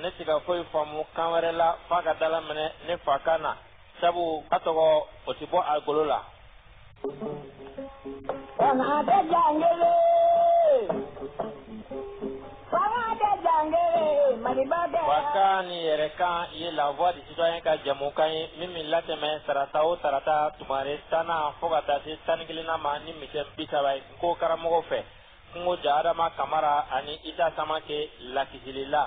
ne tɛ se ka foyi faamu kan wɛrɛ la fo k'a dalaminɛ ne fakan na sabu ka tɔgɔ o tɛ bɔ a golo la Fakan ni yɛrɛkan ye la voix de citoyen ka jamukan ye min bɛ latɛmɛ tarata o tarata tumare tannan fo ka taa se tan ni kelennan ma ni misɛn bi saba ye n ko karamɔgɔw fɛ Kungo ja Adama Kamara ani Isa Samake Lakisilila.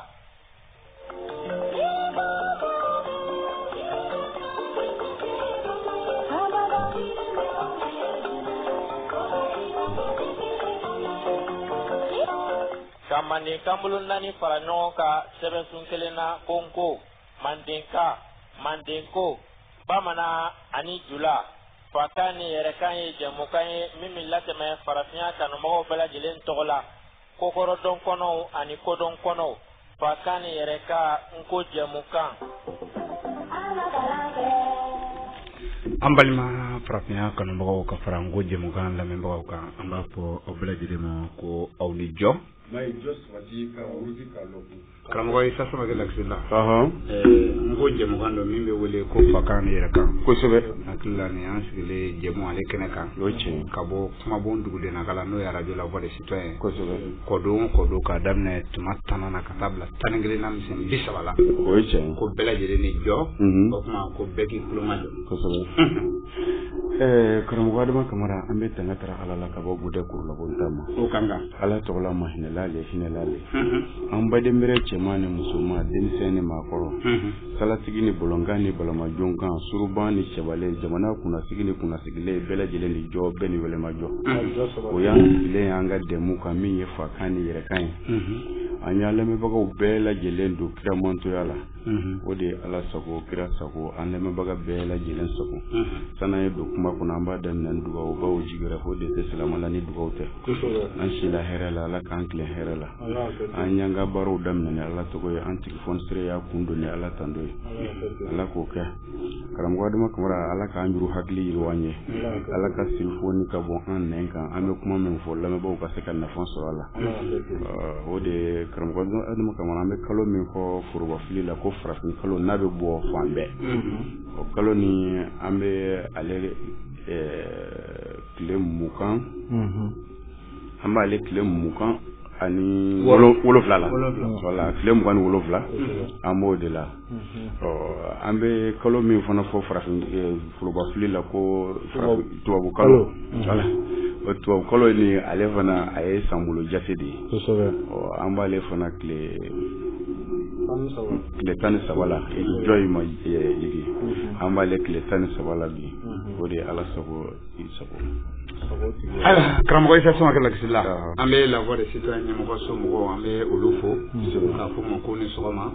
Ka manden kanbolo naani fara ɲɔgɔn kan sɛbɛnsun kelen na ko n ko mandenka mandenko bamanan ani jula Fakan ni yɛrɛkan ye jɛmukan ye min bɛ latɛmɛ farafinya kanubagaw bɛɛ lajɛlen tɔgɔ la kokɔrɔdɔn kɔnɔw ani kodɔn kɔnɔw fakan ni yɛrɛkan n ko jɛmukan an balima farafinya kanubagaw ka fara n ko jɛmukan lamɛnbagaw kan an b'a fɔ aw bɛɛ lajɛlen ma ko aw ni jɔ karamɔgɔ isa samake lakisilila n ko jɛmukan don min bɛ wele ko fakan ni yɛrɛkan kosɛbɛ hakili la nin an sigilen jɛmu ale kɛnɛ kan ka bɔ kumabon dugudennakan la n'o ye arajo la voix de citoyen ye kosɛbɛ kɔdon kɔdon k'a daminɛ tuma tannan na ka taa bila tan ni kelen na misɛn bi saba la o ye tiɲɛ ko bɛɛ lajɛlen ni jɔ o tuma ko bɛɛ k'i kuloma jɔ kosɛbɛ karamɔgɔ adama kamara an bɛ tanga tara ala la ka bɔ budɛ kurulabonta ma o ka kan ala tɔgɔ la mahinɛla le hinɛla le an badenbɛrɛ cɛman ni musoman denmisɛn ni maakɔrɔ salatigi ni bolonkan ni balamajonkan suruban ni cɛbalen jamana kunnasigi ni kunnasigilen bɛɛ lajɛlen ni jɔ bɛɛ ni wɛlɛmajɔ o y'an sigilen y'an ka jɛmu kan min ye fakan ni yɛrɛkan ye an y'a lamɛnbagaw bɛɛ lajɛlen don kiramantoya la o de ye ala sago kira sago an lamɛnbaga bɛɛ lajɛlen sago san'an ye don kuma kɔnɔ an b'a daminɛ ni dugawu bawo jigi wɛrɛ ko de tɛ silamɛ la ni dugawu tɛ an sila hɛrɛ la ala k'an tilen hɛrɛ la an y'an ka baaraw daminɛ ni ala tɔgɔ ye an tigi fonisire y'a kun don ni ala tando ye ala k'o kɛ karamɔgɔ adama kamara ala k'an juru hakili yiriwa an ye ala ka siri foni ka bɔ an nɛn kan an bɛ kuma min fɔ lamɛnbaaw ka se ka nafa sɔrɔ a la o de karamɔgɔ adama kamara an bɛ kalo min fɔ forobafili la ko farafin kalo n'a bɛ bɔ fan bɛɛ mm-hmm. o kalo ni an bɛ ale tile mugan mm-hmm. an b'ale tile mugan ani wolonwula la tile mugan ni wolonwula mm-hmm. an b'o de la An bɛ kalo min fana fɔ farafin forobafɔli la ko tubabu kalo tubabu kalo ni ale fana a ye san bolo jate de ye an b'ale fana tile tan ni saba la jɔn ma an b'ale tile tan ni saba la bi o de ye ala sago Karamɔgɔ isa samake lakisila an bɛ la voix des citoyens ɲɛmɔgɔ so mɔgɔw an bɛ olu fo k'a fɔ ma ko ni sɔgɔma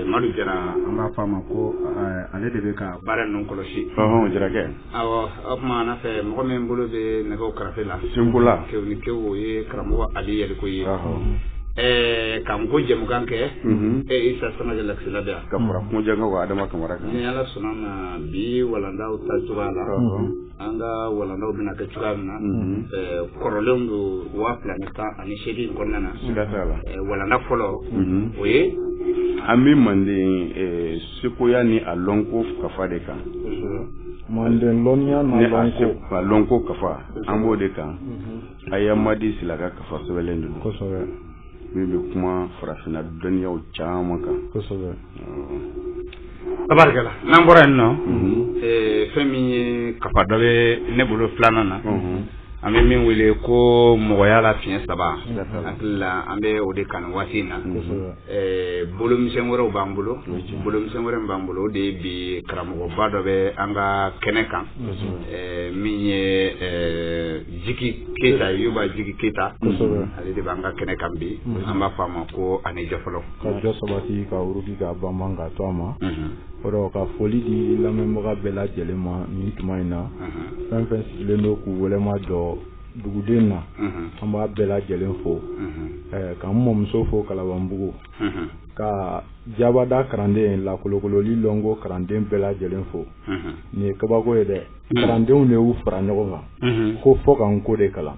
madu jara an b'a fɔ a ma ko ale de bɛ ka baara ninnu kɔlɔsi jarakɛ o tuma na fɛ mɔgɔ min bolo bɛ nɛgɛ karafe la senkola ke ni ke o ye karamɔgɔ ali yalikoye ɛɛ ka nko jamukan kɛ e isa samake lakisila yan ka kunjɛ ko adama kamara ni ala sɔnna bi walandaw ta cogoya la an ka walandaw bɛna kɛ cogoya min na kɔrɔlenw don waa fila ni tan ani seegin kɔnɔna na walanda fɔlɔ o ye an bɛ manden sekoya ni a lɔnko kafa de kan manden lɔnniya n'a lɔnko kafa an b'o de kan a ye madi sila ka kafa sɛbɛnlen don kosɛbɛ min bɛ kuma farafinna dɔnniyaw caman kan kosɛbɛ tabarikala n'an bɔra yen nɔ mhm. fɛn min ye kafa dɔ bɛ ne bolo filanan na mhm. an bɛ min wele ko mɔgɔya la fiɲɛ saba hakili la an bɛ o de kan waati in na Eh, bolomisɛn wɛrɛw b'an bolo bolomisɛn wɛrɛ b'an bolo o de ye bi karamɔgɔba dɔ bɛ an ka kɛnɛ kan eh, min ye eh, jiki keyita yuba jiki keyita ale de b'an ka kɛnɛ kan bi an b'a fɔ a ma ko a ni jɔ fɔlɔ ka jɔ sabati ka wuruki ka banban ka to a ma o rɔ ka foli di lamɛnbaga bɛɛ lajɛlen ma nin tuma in na fɛn fɛn sigilen don k'u wɛlɛma jɔ duguden na an b'a bɛɛ lajɛlen fo ka n mɔmuso fo kalabanbugu ka jabada karanden lakolokololi lɔnko karanden bɛɛ lajɛlen fo nin ye kabako ye dɛ karandenw de y'u fara ɲɔgɔn kan ko fo ka nko de kalan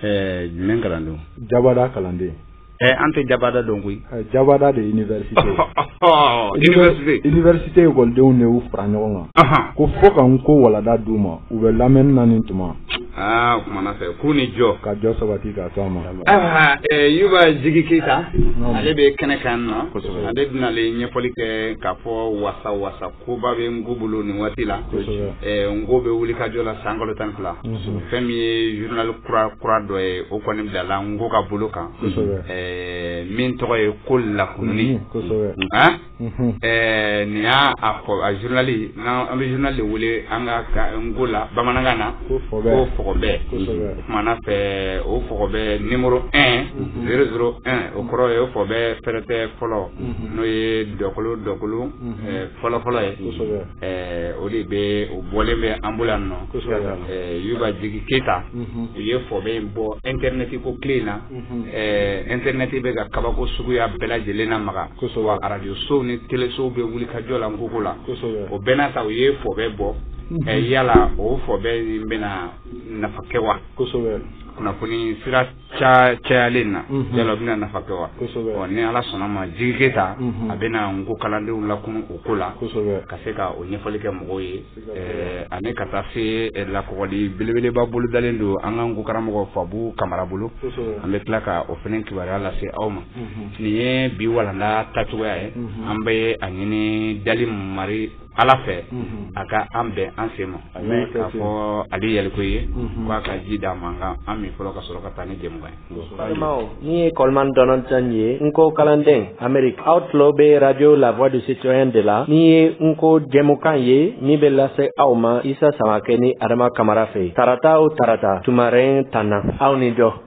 jumɛn kalandenw jabada kalanden Ɛ an tɛ jabada dɔn koyi jabada de ye université ye université école-denw de y'u fara ɲɔgɔn kan ko fo ka nko walanda d'u ma u bɛ lamɛnni na nin tuma aa o kuma na fɛ k'u ni jɔ ka jɔ sabati ka to a ma ayiwa Yuba Jigi Keyita ale bɛ kɛnɛ kan yan nɔ ale bɛna ale ɲɛfɔli kɛ k'a fɔ wasa-wasa koba bɛ nko bolo nin waati la nko bɛ wuli ka jɔ la san kalo tan ni fila fɛn min ye journal kura dɔ ye o kɔni bilala nko ka bolo kan min tɔgɔ ye ko lakununni n'i y'a fɔ a journal an bɛ journal de wele an ka nko la bamanankan na ko fɔgɔbɛ kuma na fɛ o fɔgɔbɛ numéro un zéro zéro un o kɔrɔ ye o fɔgɔbɛ fɛrɛtɛ fɔlɔ n'o ye dɔkolo dɔkolo fɔlɔfɔlɔ ye o de bɛ o bɔlen bɛ an bolo yan nɔ yuba jigi keyita u ye fɔbɛ in bɔ internet ko tile in na internet bɛ ka kabako suguya bɛɛ lajɛlen namaga wa arajoso ni teleso bɛ wuli ka jɔ la n koko la o bɛɛ n'a ta u ye fɔbɛ bɔ yala o fɔbɛ bɛna nafa kɛ wa kunnafoni sira ca cayalen na mhm. yala o bɛna nafa kɛ wa ɔ ni ala sɔnna ma jigi keyita mhm. a bɛna n ko kalandenw lakunun o ko la ka se ka o ɲɛfɔli kɛ mɔgɔw ye eh, ani ka taa se eh, lakɔgɔli belebeleba bolodalen don an ka n ko karamɔgɔ fabu kamara bolo an bɛ tila ka o fɛnɛ kibaruya lase aw ma mhm. nin ye bi walanda tacogoya ye an bɛ a ɲini dali mari ala fɛ a ka an bɛn an sen ma k'a fɔ ale yɛlɛko ye k'a ka ji d'an ma an ka an min fɔlɔ ka sɔrɔ ka taa ni jɛmukan ye balimaw nin ye coleman donaldson ye n ko kalanden ameriki aw tulo bɛ arajo la voix du citoyen de la nin ye n ko jɛmukan ye min bɛ lase aw ma isa samakɛ ni adama kamara fɛ tarata o tarata tumaren tan na aw ni jɔ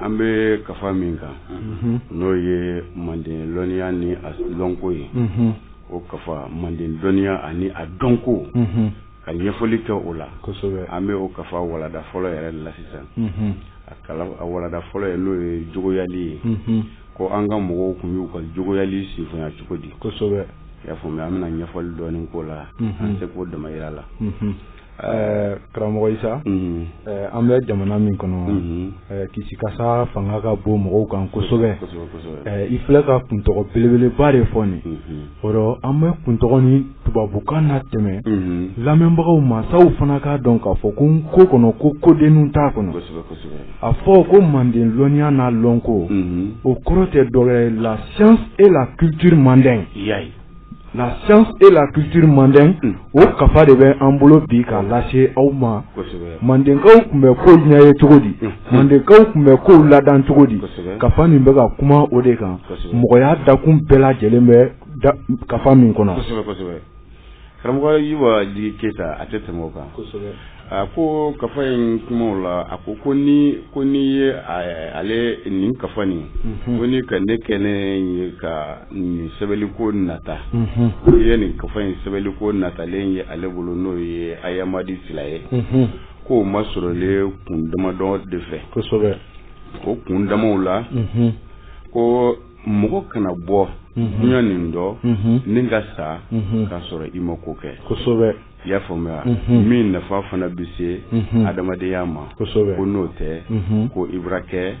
an bɛ kafa min kan n'o ye manden lɔnniya ni a lɔnko ye o kafa manden dɔnniya ani a dɔnko ka ɲɛfɔli kɛ o la kosɛbɛ an bɛ o kafa walada fɔlɔ yɛrɛ la sisan a walada fɔlɔ ye n'o ye jogoyali ye ko an ka mɔgɔw tun y'u ka jogoyali sinfonya cogo di kosɛbɛ y'a faamuya an bɛna ɲɛfɔli dɔɔnin k'o la an tɛ ko dama yira la Ɛɛ karamɔgɔ isa an bɛ jamana min kɔnɔ kisikasa fanga ka bon mɔgɔw kan kosɛbɛ i filɛ ka kuntɔgɔ belebeleba de fɔ nin o rɔ an bɛ kuntɔgɔ nin tubabukan na tɛmɛ lamɛnbagaw ma sa u fana k'a dɔn k'a fɔ ko n ko kɔnɔ ko kodenw t'a kɔnɔ a fɔ ko manden lɔnniya n'a lɔnko o kɔrɔ tɛ dɔ gɛrɛ la science et la culture mandingue la science et la culture mandingue o kafa de bɛ an bolo bi k'a lase aw ma mandenkaw tun bɛ kow ɲɛ ye cogo di mandenkaw tun bɛ kow ladan cogo di kafa nin bɛ ka kuma o de kan mɔgɔya dakun bɛɛ lajɛlen bɛ kafa min kɔnɔ karamɔgɔ keyita a tɛ tɛmɛ o kan A ko kafa in kumaw la a ko ko ni ko n ye ale nin kafa nin ko ni ka ne kɛ ne ka nin sɛbɛnli ko nata ko ye nin kafa in sɛbɛnli ko natalen ye ale bolo n'o ye ayamadi sila ye k'o masɔrɔlen kun damadɔ de fɛ kosɛbɛ o kun damaw la ko mɔgɔ kana bɔ dunya nin dɔ ni ka sa k'a sɔrɔ i ma ko kɛ kosɛbɛ i y'a faamuya min nafa fana bɛ se adamadenya ma ko n'o tɛ ko i bɛ kɛ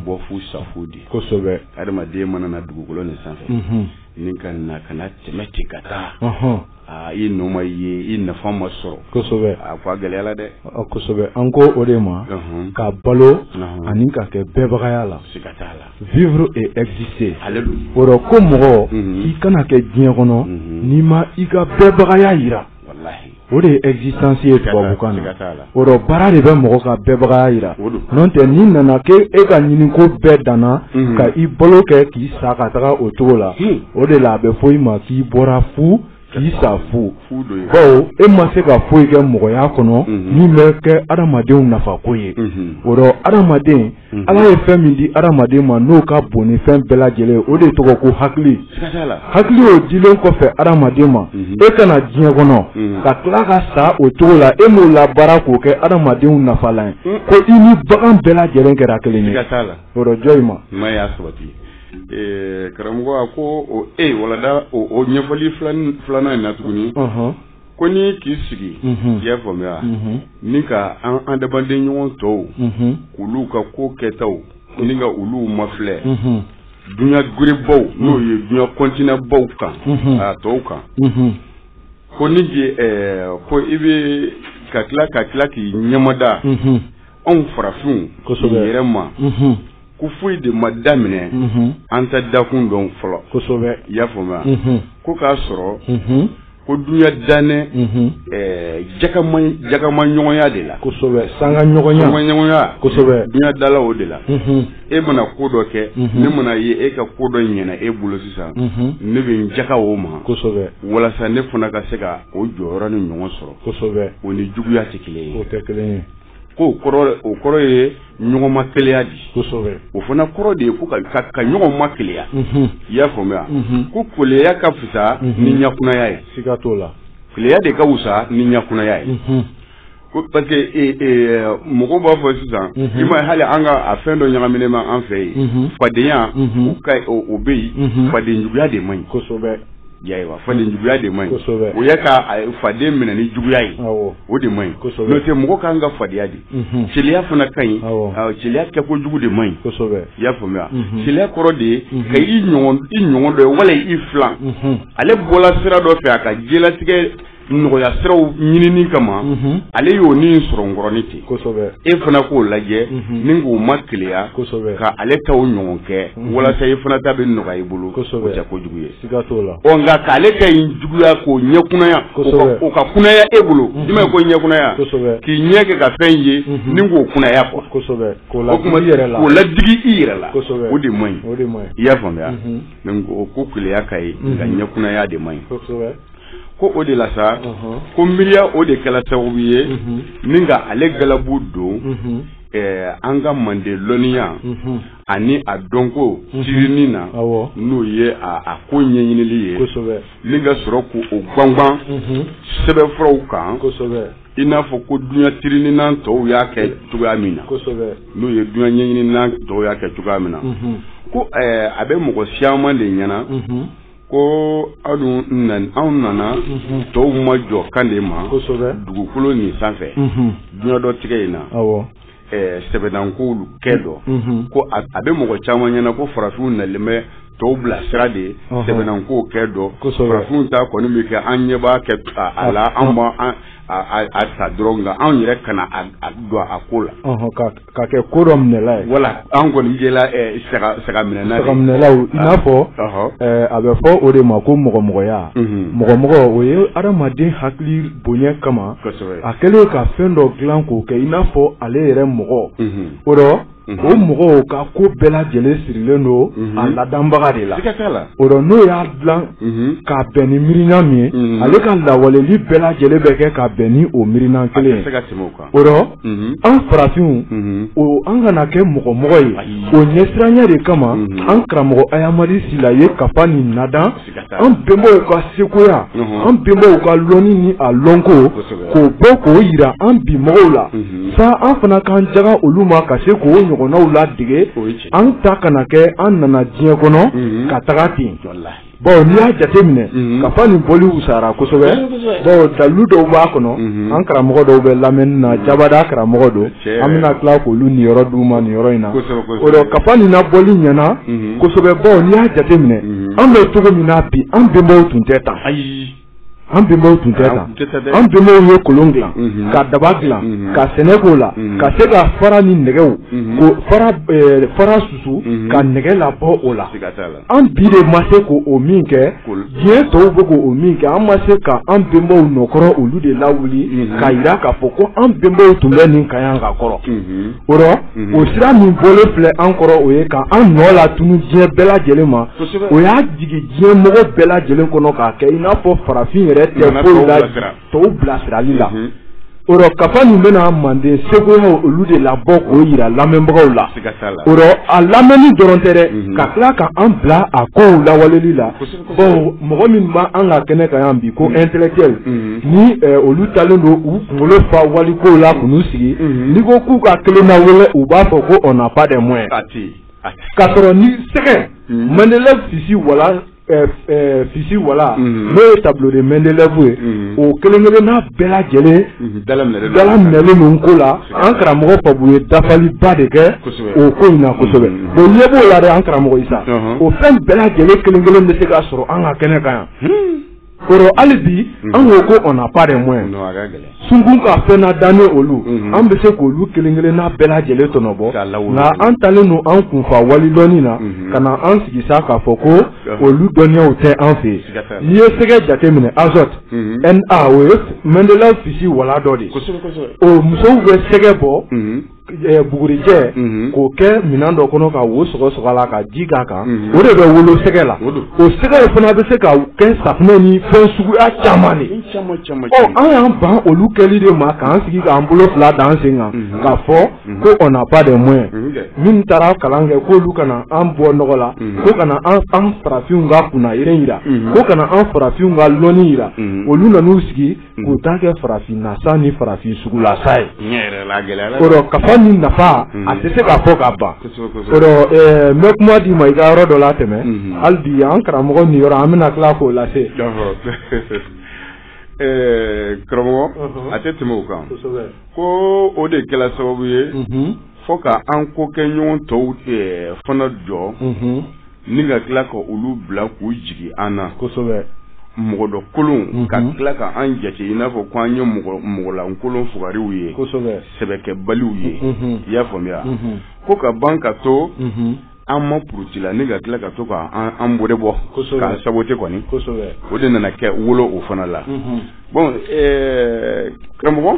bɔ fu sa fu di kosɛbɛ adamaden mana na dugukolo ni sanfɛ ni ka na ka na tɛmɛ ten ka taa i nɔ ma ye i nafa ma sɔrɔ kosɛbɛ a ko a gɛlɛyala dɛ kosɛbɛ an ko o de ma ka balo ani ka kɛ bɛɛbagaya la siga t'a la vivre et exister ale don o rɔ ko mɔgɔ Mhm. i kana kɛ diɲɛ kɔnɔ Mhm. n'i ma i ka bɛɛbagaya yira walahi o de ye existence ye tubabukan na siga t'a la. o rɔ baara de bɛ mɔgɔ ka bɛɛbagaya yira O don. n'o tɛ n'i nana k'e ka ɲiniko bɛɛ danna Mhm. ka i balo kɛ k'i sa ka taga o cogo la Hmm. o de la a bɛ fɔ i ma k'i bɔra fu k'i sa fu bawo e ma se ka foyi kɛ mɔgɔya kɔnɔ mhm. min bɛ kɛ adamadenw nafako ye mhm. o rɔ adamaden mhm. ala ye fɛn min di adamaden ma n'o ka bon ni fɛn bɛɛ lajɛlen o de tɔgɔ ko hakili hakili o dilen kɔfɛ adamaden ma e ka na diɲɛ kɔnɔ ka tila ka sa o cogo la e m'o labaara k'o kɛ adamadenw nafalan ye ko i ni bagan bɛɛ lajɛlen kɛra kelen ye o rɔ jɔn in ma karamɔgɔ a ko e walada o ɲɛfɔli filanan in na tuguni ko ni k'i sigi i y'a faamuya ni ka an adamaden ɲɔgɔn tɔw k'olu ka ko kɛtaw ni ka olu mafilɛ dunya gerebaw n'o ye dunya kɔntinɛbaw kan a tɔw kan ko ni ko i bɛ ka tila ka tila k'i ɲɛmada anw farafinw yɛrɛ ma ko foyi de ma daminɛ an ta dakun dɔn fɔlɔ kosɛbɛ i y'a faamuya ko k'a sɔrɔ ko dunya dannen jakama ɲɔgɔnya de la kosɛbɛ sanga ɲɔgɔnya kosɛbɛ dunya dala o de la e mana ko dɔ kɛ ne mana ye e ka ko dɔ ɲɛna e bolo sisan ne bɛ n jaka o ma kosɛbɛ walasa ne fana ka se ka o jɔyɔrɔ ni ɲɔgɔn sɔrɔ kosɛbɛ o ni juguya tɛ kelen ye o tɛ kelen ye ko o kɔrɔ ye ɲɔgɔn ma keleya di kosɛbɛ o fana kɔrɔ de ye ko ka ka, ka ɲɔgɔn ma keleya mhm. i y'a faamuya mhm. ko keleya ka fisa mhm. ni ɲakunaya ye siga t'o la keleya de ka wusa ni ɲakunaya ye ko parce que e, e, mɔgɔw b'a fɔ sisan i ma hali an ka a fɛn dɔ ɲagaminen ma an fɛ yen fadenya o bɛ yen fadenjuguya de man ɲi kosɛbɛ Ayiwa fadenjuguya de man ɲi o ye ka faden minɛ ni juguya ye o de man ɲi n'o tɛ mɔgɔ ka kan ka fadenya de keleya fana ka ɲi keleya kɛko jugu de man ɲi i y'a faamuya keleya kɔrɔ de ye ka i ɲɔgɔn dɔ wala i filan ale bɔla sira dɔ fɛ a ka jala tigɛ nɔgɔya siraw ɲinini kama ale y'o ni sɔrɔ n kɔrɔnin ten kosɛbɛ e fana k'o lajɛ ni k'o ma keleya kosɛbɛ ka ale ta o ɲɔgɔn kɛ walasa e fana ta bɛ nɔgɔya i bolo o tɛ kojugu ye siga t'o la ɔ nka k'ale ka ɲi juguya k'o ɲɛkunaya kosɛbɛ o ka kunaya e bolo i y'a mɛn ko ɲɛkunaya kosɛbɛ k'i ɲɛ kɛ ka fɛn ye ni k'o kunaya kɔ kosɛbɛ k'o la kuma yɛrɛ la o ladigi i yɛrɛ la kosɛbɛ o de man ɲi o de man ɲi i y'a faamuya ko ko keleya ka ɲi nka ɲɛkunaya de man ɲi kosɛbɛ ko o de la sa ko miiriya o de kɛla sababu ye ni ka ale galabu don eh, an ka mande lɔnniya ani a dɔnko tirinin na n'o ye a ko ɲɛɲinili ye ni ka sɔrɔ ko o gwangwan sɛbɛnfuraw kan i n'a fɔ ko duɲa tirininan tɔw y'a kɛ cogoya min na n'o ye duɲa ɲɛɲininan tɔw y'a kɛ cogoya min na ko eh, a bɛ mɔgɔ siyaman de ɲɛna ko aw anw nana mhm. tɔw ma jɔ kan de ma dugukolo nin sanfɛ mhm. duɲa dɔtigɛ in na sɛbɛnankow kɛ dɔ mhm. ko a bɛ mɔgɔ caman ɲɛna ko farafinw nalen bɛ tɔw bilasira de ye sɛbɛnankow kɛ dɔ farafinw ta kɔni bɛ kɛ an ɲɛ baa kɛ a la an b'a ta dɔrɔn nka anw yɛrɛ kana don a ko la Ka kɛ ko dɔminɛla ye voilà an kɔni jɛla ɛɛ saga saga minɛna de ye saga minɛlaw i n'a fɔ ɔhɔ ɛɛ a bɛ fɔ o de ma ko mɔgɔmɔgɔya unhun mɔgɔmɔgɔ o ye hadamaden hakili bonya kama kosɛbɛ a kɛlen ka fɛn dɔ dilan k'o kɛ i n'a fɔ ale yɛrɛ mɔgɔ unhun o rɔ unhun o mɔgɔw ka ko bɛɛ lajɛlen sirilen don unhun a ladanbaga de la siga t'a la o rɔ n'o y'a dilan unhun k'a bɛn ni miirina min ye unhun ale ka lawaleli bɛɛ lajɛlen bɛ kɛ ka bɛn ni o miirina kelen ye a tɛ se ka tɛmɛ o kan O rɔ an farafinw o an kana kɛ mɔgɔmɔgɔ ye o ɲɛsiranya de kama an karamɔgɔ Ayamadi Sila ye kafa nin nadan an bɛnbaw ka sekoya an bɛnbaw ka lɔnni ni a lɔnko k'o bɔ k'o yira an bi mɔgɔw la sa an fana k'an jaga olu ma ka se k'o ɲɔgɔnnaw ladege an ta kana kɛ an nana diɲɛ kɔnɔ ka taga ten jɔ la Bon n'i y'a jateminɛ kafa nin bɔli wusara kosɛbɛ dalu dɔw b'a kɔnɔ an karamɔgɔ dɔw bɛ lamɛnni na jabada karamɔgɔ don an bɛna tila k'olu niyɔrɔ d'u ma nin yɔrɔ in na o dɔ kafa nin nabɔli ɲɛna kosɛbɛ baw n'i y'a jateminɛ an bɛ cogo min na bi an bɛnbaw tun tɛ tan ayi An bɛnbaw tun tɛ tan, an bɛnbaw ye kolon dilan ka daba dilan ka sɛnɛ k'o la ka se ka fara ni nɛgɛw ka fara susu ka nɛgɛ labɔ o la, siga t'a la, an bi de ma se ko min kɛ diɲɛ tɔw bɛ ko min kɛ an ma se ka an bɛnbaw nɔkɔrɔ olu de lawuli k'a yira k'a fɔ ko an bɛnbaw tun bɛ nin kan yan ka kɔrɔ O rɔ mhm. o sira min bɔlen filɛ an kɔrɔ o ye ka an nɔ latunun diɲɛ bɛɛ lajɛlen ma o y'a jigin diɲɛ mɔgɔ bɛɛ lajɛlen kɔnɔ k'a kɛ i n'a fɔ farafin yɛrɛ tɛ foyi la tɔw bilasirali la mhm. o rɔ kafa nin bɛna manden sekoyaw olu de labɔ k'o yira lamɛnbagaw la o rɔ a lamɛnni dɔrɔn tɛ dɛ mhm. ka tila ka an bila a kow lawaleli la bon mɔgɔ minw b'an ka kɛnɛ kan yan bi ko mm. intellectuel mm. ni eh, olu talen don u kunkolo fa walikow la k'u mm. sigi n'i ko k'u ka kelen na wele u b'a fɔ ko on n'a pas de moyen k'a sɔrɔ ni sɛgɛ Mendeleev fisi wala eh, eh, fisi wala n'o ye tableau de Mendeleev ye o kelen kelenna bɛɛ lajɛlen dalaminɛlen don ko la An karamɔgɔ Babu ye dafaliba de kɛ o ko in na kosɛbɛ bonya b'o la dɛ an karamɔgɔ Isa o fɛn bɛɛ lajɛlen kelen kelen bɛ se ka sɔrɔ an ka kɛnɛ kan yan o rɔ hali bi an ko ko on n'a pas de moyens sunkun ka fɛn nadannen olu an bɛ se k'olu kelen kelen na bɛɛ lajɛlen tɔnɔbɔ nka an talen don an kunfa wali dɔnni na ka na an sigi sa k'a fɔ ko olu dɔnniyaw tɛ an fɛ yen n'i ye sɛgɛ jateminɛ azote Na o ye Mendeleev fisi wala dɔ de o musow bɛ sɛgɛ bɔ bugurijɛ k'o kɛ minɛn dɔ kɔnɔ ka wo sɔgɔ la ka ji k'a kan o de bɛ wolo sɛgɛ la o sɛgɛ fana bɛ se ka kɛ safunɛ ni fɛn suguya caman de an y'an ban olu kɛli de ma k'an sigi k'an bolo fila d'an sen kan k'a fɔ ko on n'a pas de moyen minnu taara kalan kɛ k'olu ka na an bɔ nɔgɔ la ko ka na an an farafinw ka kunnayere yira ko ka na an farafinw ka lɔnni yira olu nan'u sigi k'u ta kɛ farafin nasa ni farafin sugu lasa ye o rɔ kafa nin nafa a tɛ se ka fɔ ka ban o rɔ n bɛ kuma d'i ma i ka yɔrɔ dɔ latɛmɛ hali bi an karamɔgɔ nin yɔrɔ an bɛna tila k'o lase. Ɛɛ karamɔgɔ a tɛ tɛmɛ o kan ko o de kɛla sababu ye fo ka an kokɛɲɔgɔn tɔw fana jɔ ni ka tila ka olu bila k'u jigi an na mɔgɔ dɔ kolon ka tila ka an jate i n'a fɔ ko an ye mɔgɔlankolon fugariw ye sɛbɛkɛbaliw ye i y'a faamuya ko ka ban ka to an ma puruti la ni ka tila ka to k'an bɔre bɔ k'an saboté kɔni o de nana kɛ wolo o fana la bon karamɔgɔ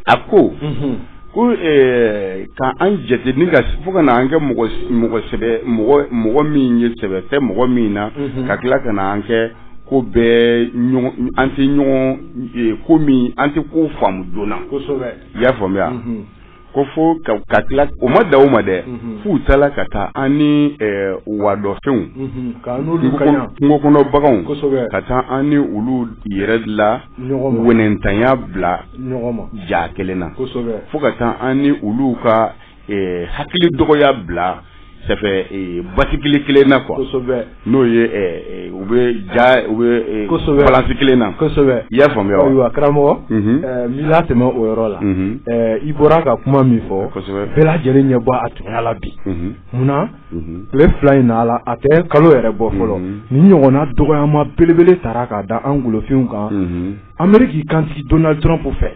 a ko ko ka an jate ni fo ka na an kɛ mɔgɔ mɔgɔ min ye sɛbɛ tɛ mɔgɔ min na ka tila ka na an kɛ ko bɛɛ an tɛ ɲɔgɔn ko min an tɛ ko faamu joona i y'a faamuya ko fo ka ka tila o ma dan o ma dɛ mhm. f'u taara ka taa an ni eh, wadɔfɛnw mhm. kungo kɔnɔ baganw ka taa an ni olu yɛrɛ la wɛnɛntanya bila ja kelen na fo ka taa an ni olu ka eh, hakili dɔgɔya bila ça fait eh, basikili kelen na quoi kosɛbɛ n'o ye eh, eh, u bɛ ja u bɛ kosɛbɛ balansi kelen na kosɛbɛ i y'a faamuya wa ayiwa karamɔgɔ mhm. n b'i latɛmɛ o yɔrɔ la mhm. i bɔra ka kuma min fɔ kosɛbɛ bɛɛ lajɛlen ɲɛ bɔ a tunya la bi mhm. munna tile fila in na a la a tɛ kalo yɛrɛ bɔ fɔlɔ nin ɲɔgɔnna dɔgɔyama belebele tara k'a da an golofinw kan ameriki kantigi donald trump fɛ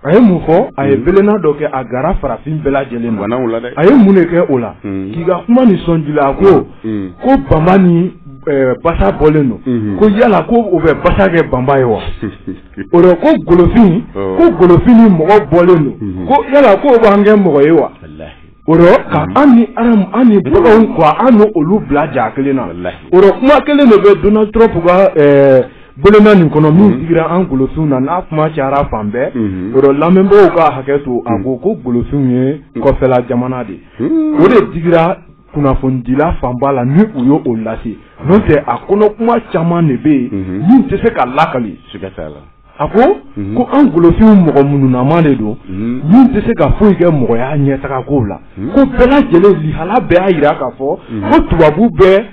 A ye mun fɔ a ye belenna dɔ kɛ a gara farafin bɛɛ lajɛlen na a ye mun de kɛ o la k'i ka kuma nin sɔn ji la a ko ko banba ni basa bɔlen don ko yala ko o bɛ basa kɛ banba ye wa o ko golofin ko golofin ni mɔgɔ bɔlen don ko yala ko o b'an kɛ mɔgɔ ye wa O rɔ ka an ni an ni baganw quoi an ni olu bila ja kelen na o rɔ kuma kelen de bɛ donald trump ka belenna nin kɔnɔ min digira an golofinw na n'a kuma cayara fan bɛɛ o rɔ lamɛnbaaw ka hakɛ to a ko ko golofinw ye kɔfɛla jamana de o de digira kunnafonidila fanba la ni u y' o lase n'o tɛ a kɔnɔ kuma caman de bɛ yen min tɛ se ka lakali A ko ko an golofinw mɔgɔ mununaman de don min tɛ se ka foyi kɛ mɔgɔya ɲɛtaga ko la ko bɛɛ lajɛlen lihala bɛɛ y'a jira k'a fɔ ko tubabu bɛ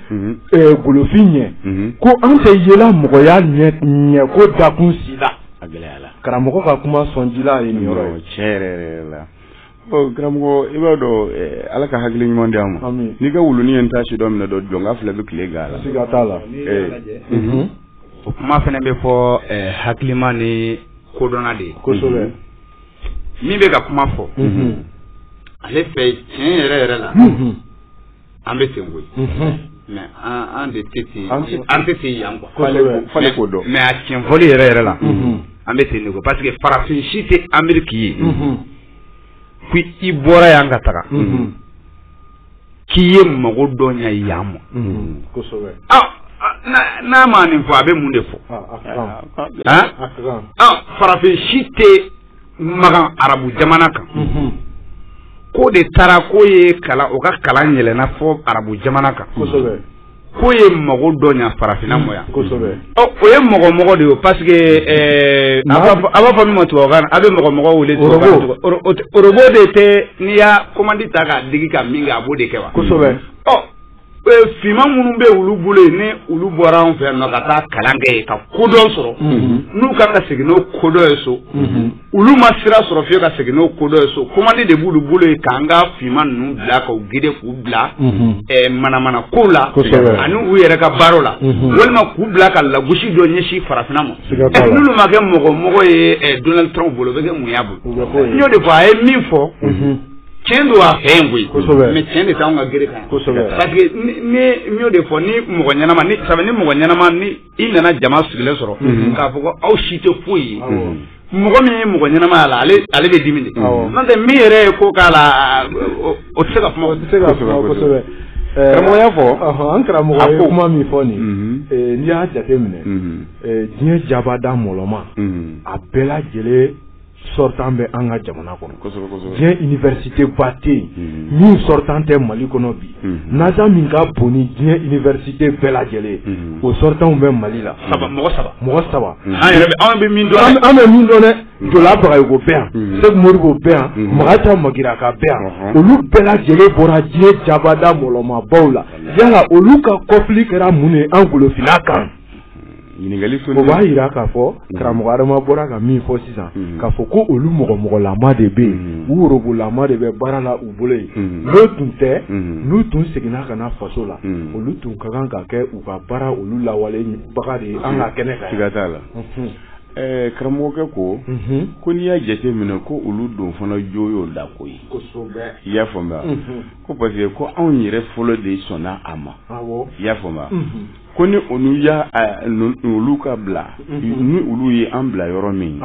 golofin ɲɛ ko an tɛ yela mɔgɔya ɲɛ ko dakun si la karamɔgɔ ka kuma sɔn ji ye nin yɔrɔ cɛ la ɔ karamɔgɔ i b'a dɔn eh, ala ka hakili ɲuman di an ma n'i ka wuluni ye n ta sidɔn minɛ dɔ jɔn ka filɛ bɛ tile gan la siga t'a la eh. mhm. o kuma fana bɛ fɔ eh, hakilima ni kodɔnna de ye kosɛbɛ mhm. min bɛ ka kuma fɔ mhm. ale fɛ tiɲɛ yɛrɛ yɛrɛ la an bɛ ten koyi mais an de tɛ ten an tɛ ten yan quoi k'o dɔn mais a tiɲɛfɔli yɛrɛ yɛrɛ la an bɛ ten de ko parce que farafin si tɛ ameriki ye ko i bɔra yan ka taga k'i ye mago dɔ ɲa yan ma n'a ma nin fɔ a bɛ mun de fɔ farafin si tɛ makan arabu jamana kan k'o de taara k'o ye kalan o ka kalan yɛlɛnna fo arabu jamana kan k'o ye mago dɔ ɲa farafinna ma yan ɔ o ye mɔgɔmɔgɔ de ye parce que ɛɛ a b'a fɔ a b'a fɔ min ma tubabukan na a bɛ mɔgɔmɔgɔ wele tubabukan na oro- o tɛ- orobo de tɛ n'i y'a komandi ta k'a digi ka min kɛ a b'o de kɛ wa ɔ Finman minnu bɛ olu bolo yen ni olu bɔra anw fɛ yan nɔ ka taa kalan kɛ yen ka kodɔn sɔrɔ n'u kan ka segin n'o kodɔn ye so olu ma sira sɔrɔ fiye ka segin n'o kodɔn ye so komandi de b'olu bolo yen k'an ka finman ninnu bila k'u gide k'u bila manamana kow la ani u yɛrɛ ka baara la walima k'u bila ka lagosi dɔ ɲɛsin farafinna ma n'olu ma kɛ mɔgɔ mɔgɔ ye Donald Trump bolo o bɛ kɛ mun y'a bolo n y'o de fɔ a ye min fɔ cɛn don a fɛ yen koyi kosɛbɛ mais cɛn de t'anw ka gere kan kosɛbɛ parce que ne n y'o de fɔ ni mɔgɔ ɲɛnama ni sabu ni mɔgɔ ɲɛnama ni i nana jama sigilen sɔrɔ mhm. k'a fɔ ko aw si tɛ foyi ye mɔgɔ min ye mɔgɔ ɲɛnama y'a la ale ale bɛ dimi de n'o tɛ min yɛrɛ ye ko k'a la o tɛ se ka kuma o tɛ se ka kuma kosɛbɛ eh, karamɔgɔ y'a fɔ an karamɔgɔ ye kuma min fɔ nin mhm. eh, n'i y'a jateminɛ mhm. eh, diɲɛ jabada mɔlɔma a bɛɛ lajɛlen sortant bɛ an ka jamana kɔnɔ diɲɛ université ba tɛ yen mm-hmm. min sortant tɛ mali kɔnɔ bi mm-hmm. NASA min ka bon ni diɲɛ université bɛɛ lajɛlen ye mm-hmm. o sortantw bɛ mali la saba mɔgɔ saba mɔgɔ saba an bɛ min dɔn dɛ jɔla bagayogo bɛ yan sɛku modibo bɛ yan makan ta magiraga bɛ yan uh-huh. olu bɛɛ lajɛlen bɔra diɲɛ jabada mɔlɔmabaw la yala olu ka kɔfili kɛra mun ye an golofinna kan ɲininkali fɛn o b'a jira k'a fɔ mhm. karamɔgɔ adama bɔra ka min fɔ sisan mhm. k'a fɔ ko olu mɔgɔ mɔgɔlama de bɛ yen mhm. u worobolama de bɛ baara la u bolo yen n'o tun tɛ n'u tun seginna ka na faso la olu tun ka kan ka kɛ u ka baara olu lawalebaga de ye an ka kɛnɛ kan siga t'a la ɛɛ karamɔgɔkɛ ko ko n'i y'a jateminɛ ko olu don fana jo y'o da ko ye kosɛbɛ i y'a faamuya ko parce que ko anw yɛrɛ fɔlɔ de sɔnna a ma i y'a faamuya ko ni olu y'a olu ka bila mhm. ni olu ye an bila yɔrɔ min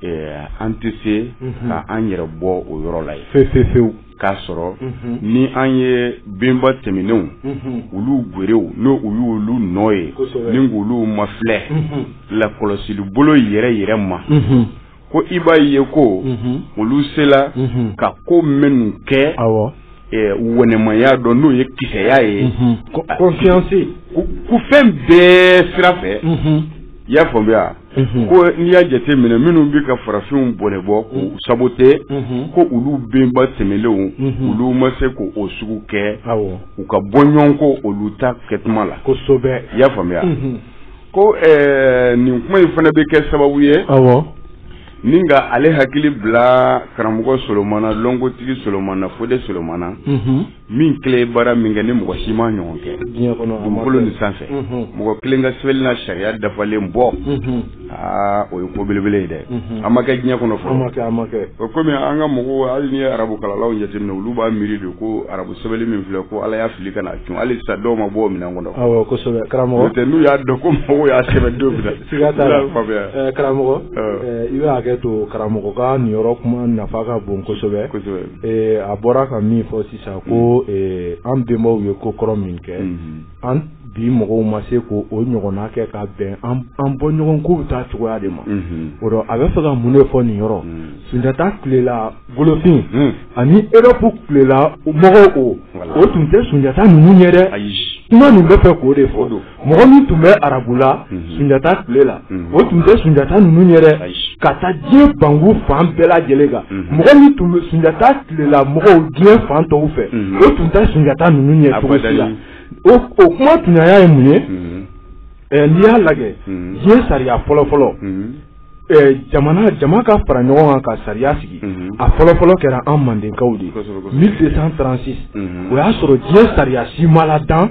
eh, an tɛ se mhm. ka an yɛrɛ bɔ o yɔrɔ la ye fewu k'a sɔrɔ mhm. ni an ye benba tɛmɛnenw olu gwerew n'o u y'olu nɔ ye ni k'olu mafilɛ lakɔlɔsili bolo yɛrɛ yɛrɛ ma ko i b'a ye ko mhm. olu sela mhm. ka ko minnu kɛ awɔ eh, wɛnɛmaya dɔ n'o ye kisɛya ye mhm. confiance ko fɛn bɛɛ sira fɛ i y'a faamuya ko n'i y'a jate minɛ minnu bɛ ka farafinw bɔnɛbɔ k'u sabote ko olu benba tɛmɛnlenw olu ma se k'o sugu kɛ u ka bɔ ɲɔgɔn ko olu ta kɛtuma la kosɛbɛ i y'a faamuya ko ɛɛ nin kuma in fana bɛ kɛ sababu ye ɔwɔ ni ka ale hakili bila karamɔgɔ solomana lɔnkotigi solomana fode solomana min kelen baara min kɛ ni mɔgɔ si ma ɲɔgɔn kɛ dugukolo nin sanfɛ mɔgɔ kelen ka sɛbɛnni n'a sariya dafalen bɔ aa o ye ko belebele ye dɛ a ma kɛ diɲɛ kɔnɔ fɔlɔ kɔmi an ka mɔgɔw hali n'i ye arabu kalalaw jateminɛ olu b'a miiri de ko arabu sɛbɛli min filɛ ko ala y'a fili ka na cun hali sa dɔw ma bɔ minɛn kɔnɔ n'o tɛ n'u y'a dɔn ko mɔgɔw y'a sɛbɛn don karamɔgɔ i bɛ hakɛ to karamɔgɔ ka nin yɔrɔ kuma nafa ka bon kosɛbɛ a bɔra ka min fɔ sisan ko an bɛnbaw ye ko kɔrɔ min kɛ an bi mɔgɔw ma se ko o ɲɔgɔnna kɛ ka bɛn an bɔ ɲɔgɔn ko bɛ taa cogoya de ma o rɔ a bɛ fɛ ka mun de fɔ nin yɔrɔ sunjata tilela golofin ani europe tilela mɔgɔw o o tun tɛ sunjata ninnu ɲɛ dɛ kuma nin bɛ fɛ k'o de fɔ mɔgɔ min tun bɛ arabula sunjata tile la o tun tɛ sunjata ninnu ɲɛ dɛ ka taa diɲɛ banku fan bɛɛ lajɛlen kan mɔgɔ min tun bɛ sunjata tilela mɔgɔw diɲɛ fan tɔw fɛ o tun tɛ sunjata ninnu ɲɛ cogo si la o kuma tuɲaya ye mun ye n'i y'a lajɛ diɲɛ sariya fɔlɔ fɔlɔ jama ka fara ɲɔgɔn kan ka sariya sigi a fɔlɔfɔlɔ kɛra an mandenkaw de ye mille deux cent trente-six o y'a sɔrɔ diɲɛ sariya si ma ladan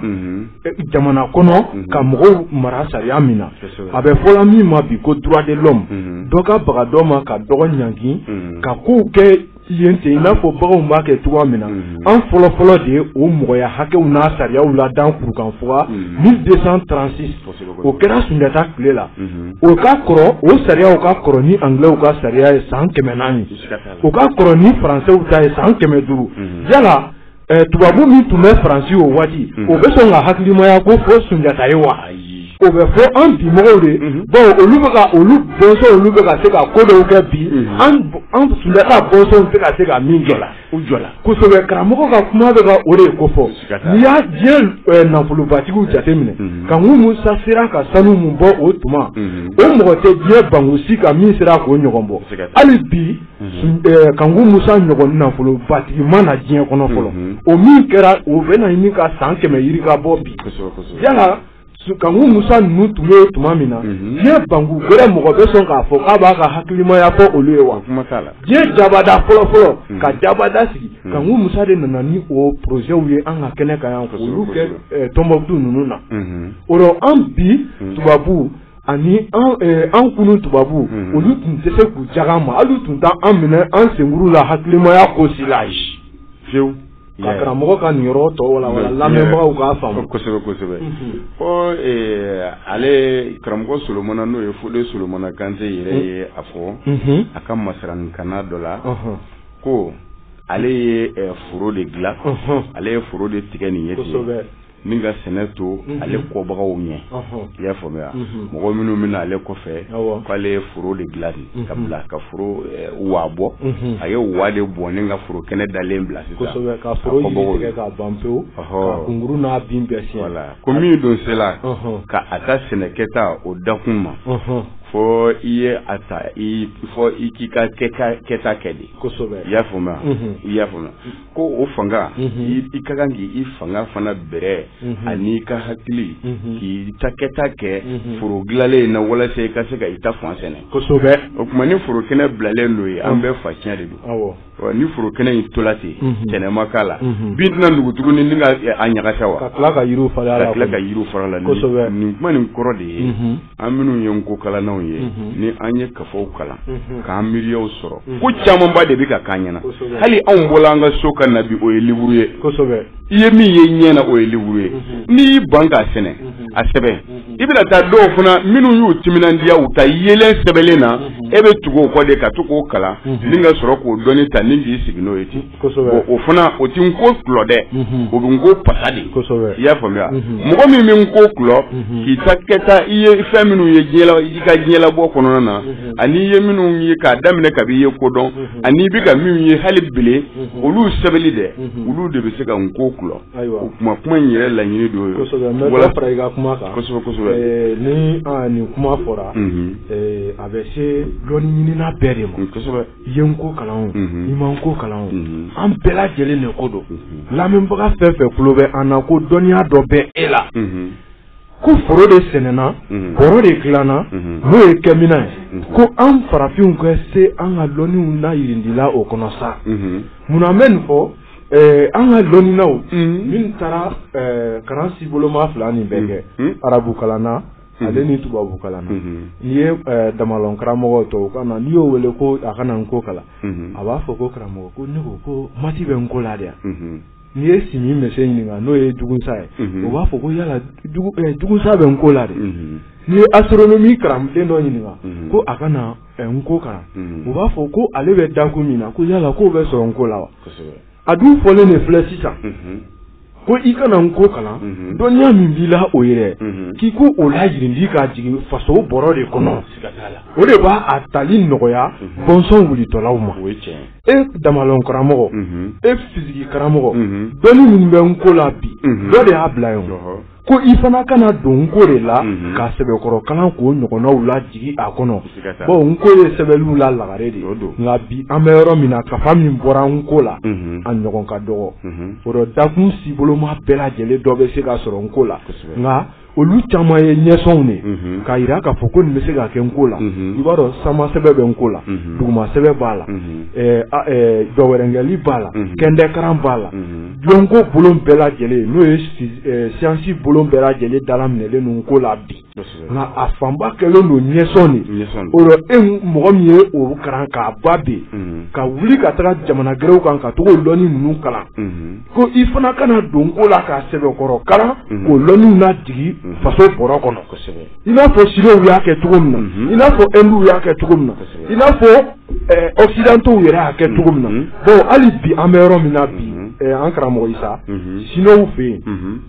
jamana kɔnɔ ka mɔgɔw mara sariya min na a bɛ fɔla min ma bi ko droit de l'homme dɔ ka baga dɔ ma ka dɔgɔ ɲangi ka kow kɛ yen ten in n'a fɔ baganw b'a kɛ cogoya min na an fɔlɔfɔlɔ de ye o mɔgɔya hakɛw n'a sariyaw ladan kurukanfuga mille deux cent trente-six o kɛra sunjata tile la o ka kɔrɔ o sariyaw ka kɔrɔ ni angilɛw ka sariya ye san kɛmɛ naani u ka kɔrɔ ni faransɛw ta ye san kɛmɛ duuru yala tubabu min tun bɛ faransi o waati o bɛ sɔn ka hakilimaya ko fɔ sunjata ye wa o bɛ fɔ an bi mɔgɔw de baw olu bɛ olu bɔnsɔn olu bɛ ka se ka ko dɔw kɛ bi an sunjata bɔnsɔnw tɛ ka se ka min jɔ u jɔ kosɛbɛ karamɔgɔ ka kuma bɛ ka o de ko fɔ n'i y'a diɲɛ nafolobatigiw jateminɛ kanku musa sera ka sanu min bɔ o tuma o mɔgɔ tɛ diɲɛ banku si kan min sera k'o ɲɔgɔn bɔ hali bi kanku musa ɲɔgɔn nafolobatigi ma na diɲɛ kɔnɔ fɔlɔ o min kɛra o bɛ na ɲini ka san kɛmɛ yirika bɔ bi yala kanku musa ninnu tun bɛ tuma min na diɲɛ banku wɛrɛ mɔgɔ bɛ sɔn k'a fɔ k'a b'a ka hakilimaya fɔ olu ye wa diɲɛ jabada fɔlɔ fɔlɔ ka jabada sigi kanku musa de nana ni o porozɛw ye an ka kɛnɛ kan yan k'olu kɛ tɔnbukutu ninnu na o rɔ an bi tubabu ani an kunu tubabu olu tun tɛ se k'u jagan ma hali u tun tɛ an minɛ an senkuru la hakilimaya ko si la fiyewu ka karamɔgɔ ka nin yɔrɔ tɔ wala lamɛnbagaw k'a faamu kosɛbɛ kosɛbɛ ko ale karamɔgɔ solomana n'o ye fode solomana kante yɛrɛ ye a fɔ a ka masarankanna dɔ la ko ale ye foro de dilan ale ye foro de tigɛ nin ye ni ka sɛnɛ to ale kɔbagaw ɲɛ i y'a faamuya mɔgɔ minnu bɛ na ale kɔfɛ k'ale ye foro de dilan ka bila ka foro wa bɔ a ye wa de bɔ ni ka foro kɛnɛ dalen bila sisan ka foro yiri tigɛ ka ban pewu ka kunkuru n'a bin bɛɛ siɲɛ ko min don sela ka a ta sɛnɛ kɛta o dakun ma fo i ye a ta fo i k'i ka kɛta kɛ de i y'a faamuya ko o fanga i ka kan k'i fanga fana bɛrɛ ani i ka hakili k'i ta kɛta kɛ foro dilanlen in na walasa i ka se ka i ta fan sɛnɛ kosɛbɛ o tuma ni foro kɛnɛ bilalen don ye an bɛɛ fa cɛn de don ni foro kɛnɛ in tola ten sɛnɛ ma k'a la bin tɛna nugu tuguni ni ka a ɲagasa wa ka tila ka yiri fara a la nin kuma nin kɔrɔ de ye an minnu ye n ko kalannaw ye ni an ye kafaw kalan k'an miiriyaw sɔrɔ ko camanba de bɛ ka k'an ɲɛna hali anw bɔla an ka so ka na bi o ye liburu ye i ye min ye ɲɛ na o ye liburu ye n'i y'i ban k'a sɛnɛ a sɛbɛn i bɛna taa dɔw fana minnu y'u timinandiya u ta yelen sɛbɛnlen na e bɛ tugu o kɔ de ka to k'o kalan ni ka sɔrɔ k'o dɔnni ta ni k'i sigi n'o ye ten o fana o tɛ n ko kulɔ dɛ o bɛ n ko pasa de i y'a faamuya mɔgɔ min bɛ n ko kulɔ k'i ta kɛta i ye fɛn minnu ye i ka diɲɛlabɔ kɔnɔna na ani i ye minnu ye k'a daminɛ kab'i ye ko dɔn ani i bɛ ka minnu ye hali bilen olu sɛbɛnni dɛ olu de bɛ se ka n ko kulɔ o kuma kuma in yɛrɛ laɲini don ye wala fara i ka kuma kan kosɛbɛ kosɛbɛ ni nin kuma fɔra a bɛ se dɔnni ɲinina bɛɛ de ma kosɛbɛ ye n ko kalan o i ma n ko kalan o an bɛɛ lajɛlen de ko don lamɛnbaga fɛn fɛn tulo bɛ an na ko dɔnniya dɔ bɛ e la ko foro de sɛnɛna bɔrɔ de dilanna n'o ye kɛminan ye ko an farafinw ka se an ka dɔnniw na yirindila o kɔnɔ sa munna an bɛ nin fɔ an ka dɔnninaw min taara kalan si boloma fila nin bɛɛ kɛ arabu kalanna ale ni tubabu kalanna n'i ye damalɔn karamɔgɔ tɔw ka na n'i y'o wele ko a ka na n ko kalan a b'a fɔ ko karamɔgɔ ko ne ko ko mati bɛ n ko la de yan n'i ye simi mɛse ɲininka n'o ye dugusa ye o b'a fɔ ko yala dugusa bɛ n ko la de n'i ye astronomi kalanden dɔ ɲininka ko a ka na n ko kalan o b'a fɔ ko ale bɛ dakun min na ko yala k'o bɛ sɔrɔ n ko la wa a dun fɔlen de filɛ sisan ko i ka na n ko kalan mhm. dɔnniya min b'i la o yɛrɛ mhm. k'i ko o layirindi k'a jigin faso bɔrɔ de kɔnɔ o de b'a a tali nɔgɔya mhm. bɔnsɔn wulitɔlaw ma e damalɔn karamɔgɔ e fisiki karamɔgɔ dɔnni minnu bɛ n ko la bi dɔ de y'a bila yen ko i fana ka na don nko de la mhm. ka sɛbɛkɔrɔ kalan k'o ɲɔgɔnnaw lajigi a kɔnɔ bon nko ye sɛbɛnliw la lagare de nka bi an bɛ yɔrɔ min na kafa min bɔra nko la mhm. a ɲɔgɔn ka dɔgɔ mhm. o dɔ dakun siboloma bɛɛ lajɛlen dɔ bɛ se ka sɔrɔ nko la nka olu caman ye ɲɛsɔnw de mhm. k'a jira k'a fɔ ko nin bɛ se ka kɛ nko la mhm. i b'a dɔn sama sɛbɛ bɛ nko la mhm. duguma sɛbɛ b'a la dɔwɛrɛnkɛli b'a la kɛndɛkaran b'a la Lɔnko bolon bɛɛ lajɛlen n'o ye siyansi bolon bɛɛ lajɛlen dalaminɛlen don nko la bi nka a fanba kɛlen don ɲɛsɔn de o rɔ e mɔgɔ min ye o kalan k'a ban bɛ ka wuli ka taga jamana gɛrɛw kan ka taga o lɔnni ninnu kalan ko i fana ka na don nko la ka sɛbɛnkɔrɔ kalan k'o lɔnniw najigi faso bɔrɔ kɔnɔ i n'a fɔ siniw y'a kɛ cogo min na i n'a fɔ ɛnduw y'a kɛ cogo min na i n'a fɔ Occidentaux yɛrɛ y'a kɛ cogo min na bon hali bi an bɛ yɔrɔ min na bi an karamɔgɔ Isa siniw fɛ yen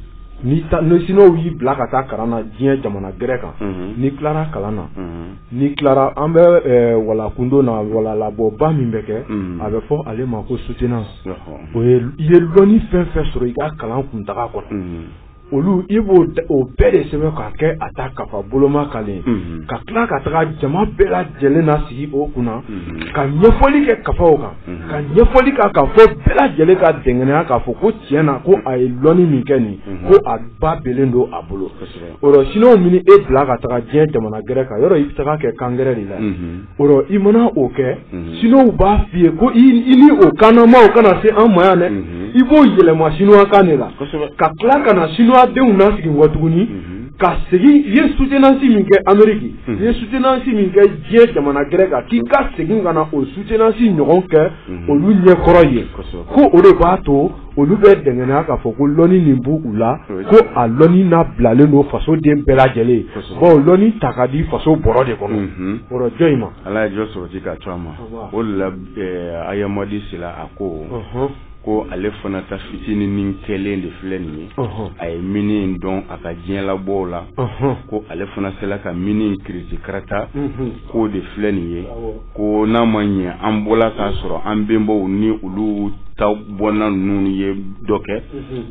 ni siniw y'i bila ka taa kalan na diɲɛ jamana gɛrɛ kan n'i tilara kalan na n'i tilara an bɛ walakundo na walalabɔba min bɛ kɛ a bɛ fɔ ale ma ko soutenance o i ye lɔnni fɛn fɛn sɔrɔ i ka kalan kuntaga kɔnɔ olu i b'o bɛɛ de sɛbɛn k'a kɛ a ta kafa boloma kalen ka tila ka taga jama bɛɛ lajɛlen nasigi o kunna ka ɲɛfɔli kɛ kafaw kan ka ɲɛfɔli ka ka fɔ bɛɛ lajɛlen ka dɛngɛnɛya k'a fɔ ko tiɲɛ na ko a ye lɔnni min kɛ nin ko a ba bɛlen don a bolo o rɔ siniw man'e bila ka taga diɲɛ jamana gɛrɛ kan yɔrɔ i bɛ tag'a kɛ kan gɛrɛ de la i mana o kɛ siniw b'a f'i ye ko i ni o kannamaw kana se an ma yan dɛ i b'o yɛlɛma siniwakan de la ka tila ka na siniwadenw nasigi wa tuguni ka segin i ye soutenance min kɛ Ameriki i ye soutenance min kɛ diɲɛ jamana gɛrɛ kan k'i ka segin ka na o soutenance ɲɔgɔn kɛ olu ɲɛkɔrɔ ye ko o de b'a to olu bɛ dɛngɛnya k'a fɔ ko lɔni nin b'u la ko a lɔni nabilalen don faso den bɛɛ lajɛlen ye bon lɔni ta ka di faso bɔrɔ de kɔnɔ mhm. o rɔ jɔn in ma ala ye jɔ sɔrɔti ka to a ma o de la eh, ayamadi sila a ko mhm. ko ale fana ta fitinin nin kɛlen de filɛ nin ye mhm. a ye mini dɔn a ka diɲɛ labɔw la ko ale fana sela ka mini kiriti karata k'o de filɛ nin ye ko n'a ma ɲɛ an bɔla k'a sɔrɔ an bɛnbaw ni olu ta bɔnna ninnu ye dɔ kɛ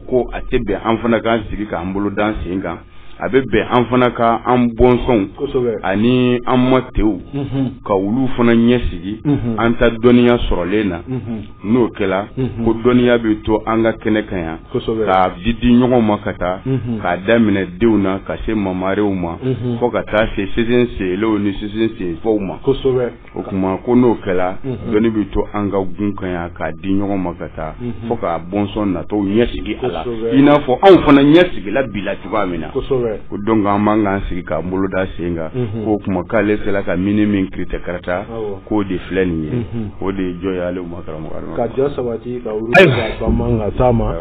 ko a tɛ bɛn an fana k'an sigi k'an bolo d'an sen kan a bɛ bɛn an fana ka an bɔnsɔnw ani an ma tew ka olu fana ɲɛsigi an ta dɔnniya sɔrɔlen na n'o kɛla ko dɔnniya bɛ to an ka kɛnɛ kan yan k'a di di ɲɔgɔn ma ka taa k'a daminɛ denw na ka se mamarew ma fo ka taa se sin senw ni sin senfaw ma o tuma ko n'o kɛla dɔnni bɛ to an ka gun kan yan k'a di ɲɔgɔn ma ka taa fo k'a bɔnsɔn natɔw ɲɛsigi a la i n'a fɔ anw fana ɲɛsigila bila cogoya min na o don ko an b'an k'an sigi k'an bolo da sen kan k'o kuma k'ale sera ka mini min kiritɛ karata k'o de filɛ nin ye o de ye jɔ ye ale ma karamɔgɔ ka jɔ sabati ka wuli ka ban ka taa ma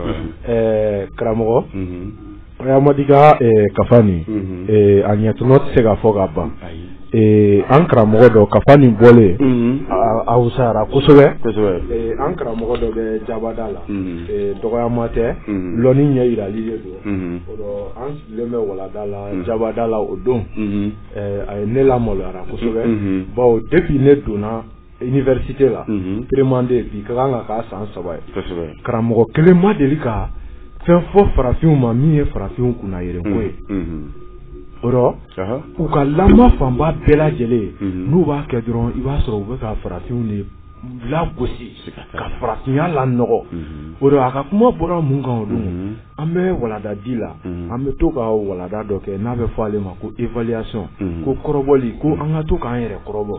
karamɔgɔ Hayamadi ka kafa nin a ɲɛtɔnɔ tɛ se ka fɔ ka ban an karamɔgɔ dɔ kafa nin bɔlen a wusayara kosɛbɛ an karamɔgɔ dɔ bɛ jabada la dɔgɔyama tɛ lɔnni ɲɛ yirali de don an sigilen bɛ walada la jabada la o don a ye ne lamaloyara kosɛbɛ bawo depuis ne donna université la première année bi ka kan ka k'a san saba ye karamɔgɔ kelen ma deli ka fɛn fɔ farafinw ma min ye farafinw kunnayɛlɛn ko ye o rɔ u ka lamɔ fanba bɛɛ lajɛlen n'u b'a kɛ dɔrɔn i b'a sɔrɔ u bɛ ka farafinw de lagosi ka farafinya lanɔgɔ o rɔ a ka kuma bɔra mun kan o don an bɛ walada di la an bɛ to ka walada dɔ kɛ n'a bɛ fɔ ale ma ko évaluation ko kɔrɔbɔli ko an ka to k'an yɛrɛ kɔrɔbɔ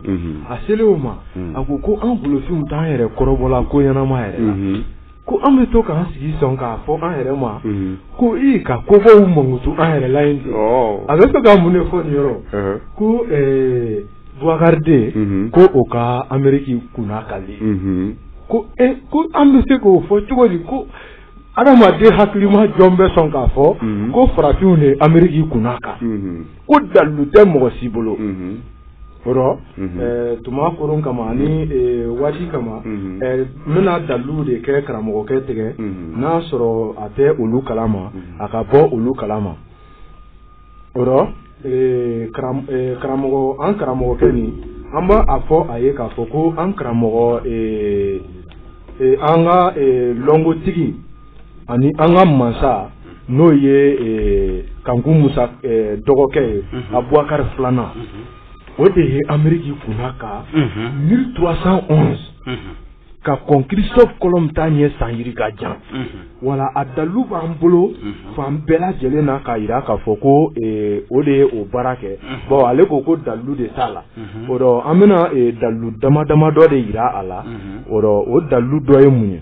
a selen o ma a ko ko an golofinw t'an yɛrɛ kɔrɔbɔla ko ɲɛnama yɛrɛ ko an bɛ to k'an sigi sɔn k'a fɔ an yɛrɛ ma ko i ka kobaw mankutu an yɛrɛ la yen ten a bɛ to ka mun de fɔ nin yɔrɔ ko Buwakari deux ko o ka anmeriki kunnakali ko ko an bɛ se k'o fɔ cogo di ko adamaden hakilima jɔn bɛ sɔn k'a fɔ ko farafinw de anmeriki kunnaka ko dalu tɛ mɔgɔ si bolo o rɔ tuma koron kama ani waati kama n bɛna dalu de kɛ karamɔgɔkɛ tɛgɛ n'a sɔrɔ a tɛ olu kalama a ka bɔ olu kalama o rɔ karamɔgɔ an karamɔgɔkɛ nin an b'a fɔ a ye k'a fɔ ko an karamɔgɔ an ka lɔnkotigi ani an ka mansa n'o ye Kanku Musa dɔgɔkɛ ye Abuwakari filanan o de ye anmeriki kunnaka mille trois cent onze ka kɔn Christophe Colomb ta ɲɛ san yirika jan wala a dalu b'an bolo fan bɛɛ lajɛlen na k'a yira k'a fɔ ko o de ye o baara kɛ bon ale ko ko dalu de t'a la o dɔ an bɛna dalu dama dama dɔ de yira a la o dɔ o dalu dɔ ye mun ye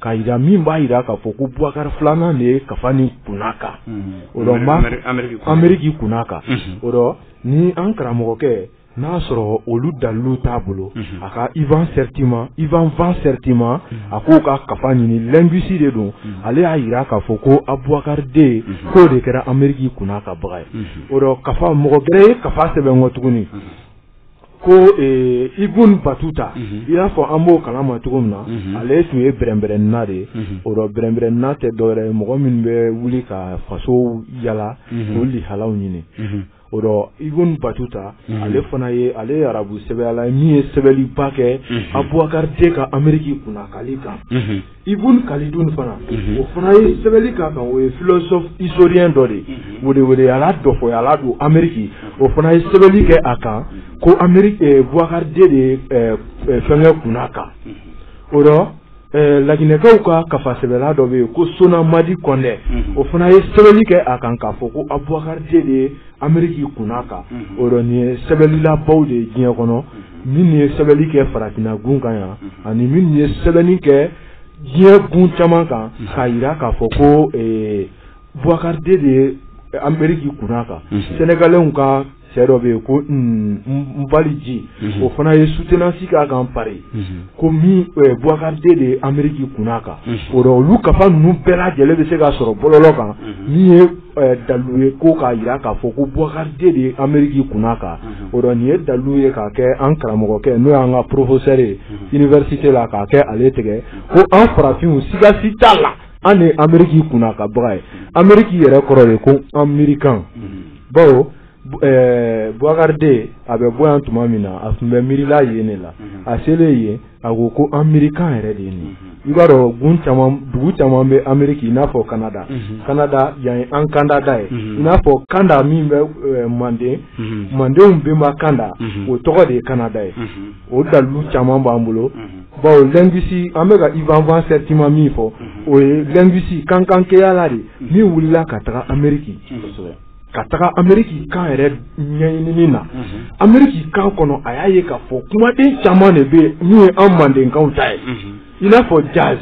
k'a yira min b'a yira k'a fɔ ko Boubacar filanan de ye kafa nin kunnaka o la n b'a Ameriki kunnaka o la ni an karamɔgɔkɛ n'a sɔrɔ olu dalilu t'a bolo a ka Ivan Sertima Ivan Van Sertima a k'o ka kafa ɲini linguiste de don ale y'a yira k'a fɔ ko Aboubacar deux k'o de kɛra Ameriki kunnakabaga ye o la kafa mɔgɔ gɛrɛ ye kafa sɛbɛn kɔ tuguni. ko Ibn Battuta i y'a fɔ an b'o kalan ma cogo min na ale tun ye bɛrɛnbɛrɛnna de o rɔ bɛrɛnbɛrɛnna tɛ dɔwɛrɛ mɔgɔ min bɛ wuli ka fasow yaala k'o lihalaw ɲini o rɔ Ibn Battuta ale fana ye ale arabu sɛbɛyala min ye sɛbɛnliba kɛ Abubakari deux ka anmerike kunnakali kan Ibn Khaldun fana o fana ye sɛbɛnli k'a kan o ye philosophe historien dɔ de weweyala dɔfɔyala don anmerike o fana ye sɛbɛnli kɛ a kan ko Bukari deux de fɛnkɛ kunnaka o rɔ laginɛkaw ka kafa sɛbɛla dɔ bɛ yen ko Sona Madi Kɔndɛ o fana ye sɛbɛnli kɛ a kan k'a fɔ ko Abubakari deux de ye Ameriki kunnaka o rɔ nin ye sɛbɛnlilabaw de ye diɲɛ kɔnɔ min ye sɛbɛnni kɛ farafinna gun kan yan ani min ye sɛbɛnni kɛ diɲɛ gun caman kan k'a jira k'a fɔ ko bukari de ye anmeriki kunnaka Sénégalaisw ka cɛ dɔ bɛ yen ko n baliji o fana ye sutenansi k'a kan Paris ko bukari de ye anmeriki kunnaka o olu kafa ninnu bɛɛ lajɛlen bɛ se ka sɔrɔ bɔlɔlɔ kan dalu ye ko k'a jira k'a fɔ ko bukari de ye anmeriki kunnaka o rɔ nin ye dalu ye k'a kɛ an karamɔgɔkɛ n'o y'an ka professeur ye université la k'a kɛ ale tigɛ ko an farafinw siga si t'a la an de anmeriki kunnakabaga ye anmeriki yɛrɛ kɔrɔ de ko an miirikan bawo Bukari deux a bɛ bɔ yan tuma min na a tun bɛ miirila yen de la a selen yen a ko ko an miirikan yɛrɛ de ye nin i b'a dɔn dugu caman bɛ anmeriki i n'a fɔ Kanada Kanada yan ye an kandada ye i n'a fɔ kanda min bɛ manden mandenw bɛnba kanda o tɔgɔ de ye Kanada ye o dalu caman b'an bolo bawo linguiste an bɛ ka Ivan Van Sertima min fɔ o ye linguiste kankankɛyala de min wulila ka taga anmerike ka taga anmeriki kan yɛrɛ ɲɛɲinini na anmeriki kan kɔnɔ a y'a ye k'a fɔ kumaden caman de bɛ yen min ye an mandenkaw ta ye i n'a fɔ jazz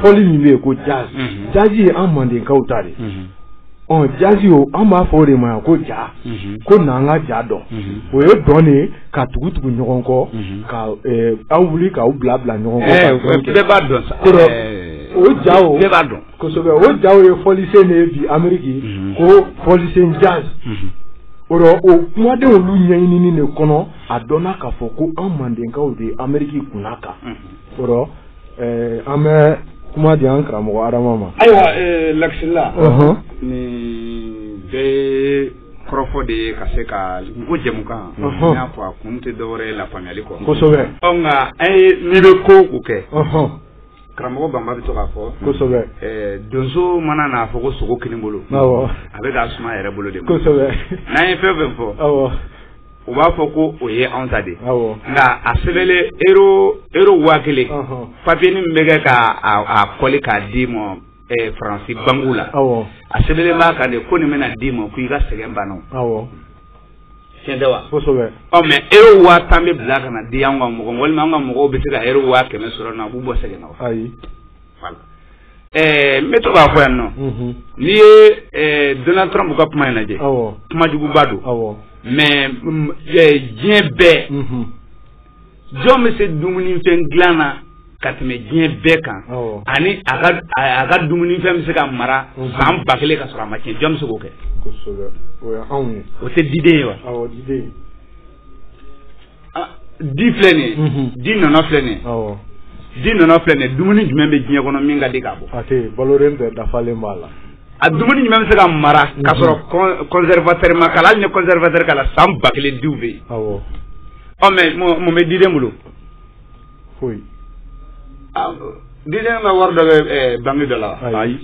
fɔli min bɛ yen ko jazz jazz ye an mandenkaw ta de ɔ jazz o an b'a fɔ o de ma ko ja ko n'an ka ja dɔn o ye dɔn de ka tugu tugu ɲɔgɔn kɔ ka aw wuli k'aw bila bila ɲɔgɔn kɔ bɛɛ b'a dɔn sa o ja o bɛɛ b'a dɔn kosɛbɛ o jaw ye fɔlisen de ye bi ameriki mhm. ko fɔlisen jazz mhm. o rɔ o kumadenw olu ɲɛɲinini de kɔnɔ a dɔnna k'a fɔ ko an mandenkaw de ye ameriki kunnaka mhm. o rɔ eh, an bɛ kuma di an karamɔgɔ adama ma ayiwa eh, lakisila nin bɛɛ kɔrɔfɔ de ye ka se ka ko jɛmukan n y'a fɔ a kun tɛ dɔwɛrɛ ye lafaamuyali kɔ kosɛbɛ nka an ye n'i bɛ ko o kɛ karamɔgɔ banba bɛ to k'a fɔ kosɛbɛ eh, donso mana n'a fɔ ko sogo kinibolo awɔ a bɛ k'a suma yɛrɛ bolo de ma kosɛbɛ n'an ye fɛn fɛn fɔ awɔ u b'a fɔ ko o ye anw ta de awɔ nka a sɛbɛnlen euro euro waa kelen papiye min bɛ kɛ ka a a kɔli k'a di ma eh, faransi banki la a sɛbɛnlen b'a kan de ko nin bɛna d'i ma ko i ka sɛgɛn banna tiɲɛ tɛ wa kosɛbɛ ɔ mais euro waa tan bɛ bila ka na di an ka mɔgɔ walima an ka mɔgɔw bɛ se ka euro waa kɛmɛ sɔrɔ na a b'u bɔ sɛgɛn na wa ayi n bɛ to k'a fɔ yan nɔ mhm. n'i ye eh, donald trump ka kuma in lajɛ kuma juguba don mais mm, eh, diɲɛ bɛɛ mhm. jɔn bɛ se dumunifɛn dilan na ka tɛmɛ diɲɛ bɛɛ kan ani a ka dumunifɛn bɛ se ka mara san ba kelen ka sɔrɔ a ma tiɲɛ jɔn bɛ se k'o kɛ o tɛ diden ye wa di filɛ nin ye di nɔnɔ filɛ nin ye di nɔnɔ filɛ nin ye dumuni jumɛn bɛ diɲɛ kɔnɔ min ka di k'a bɔ a tɛ balolan bɛɛ dafalen b'a la a dumuni jumɛn bɛ se ka mara k'a sɔrɔ conservateur ma k'a la hali ni conservateur k'a la san ba kelen diw bɛ yen ɔ mais mun bɛ diden bolo foyi ah, diden ka wari dɔ bɛ eh, banki dɔ la ayi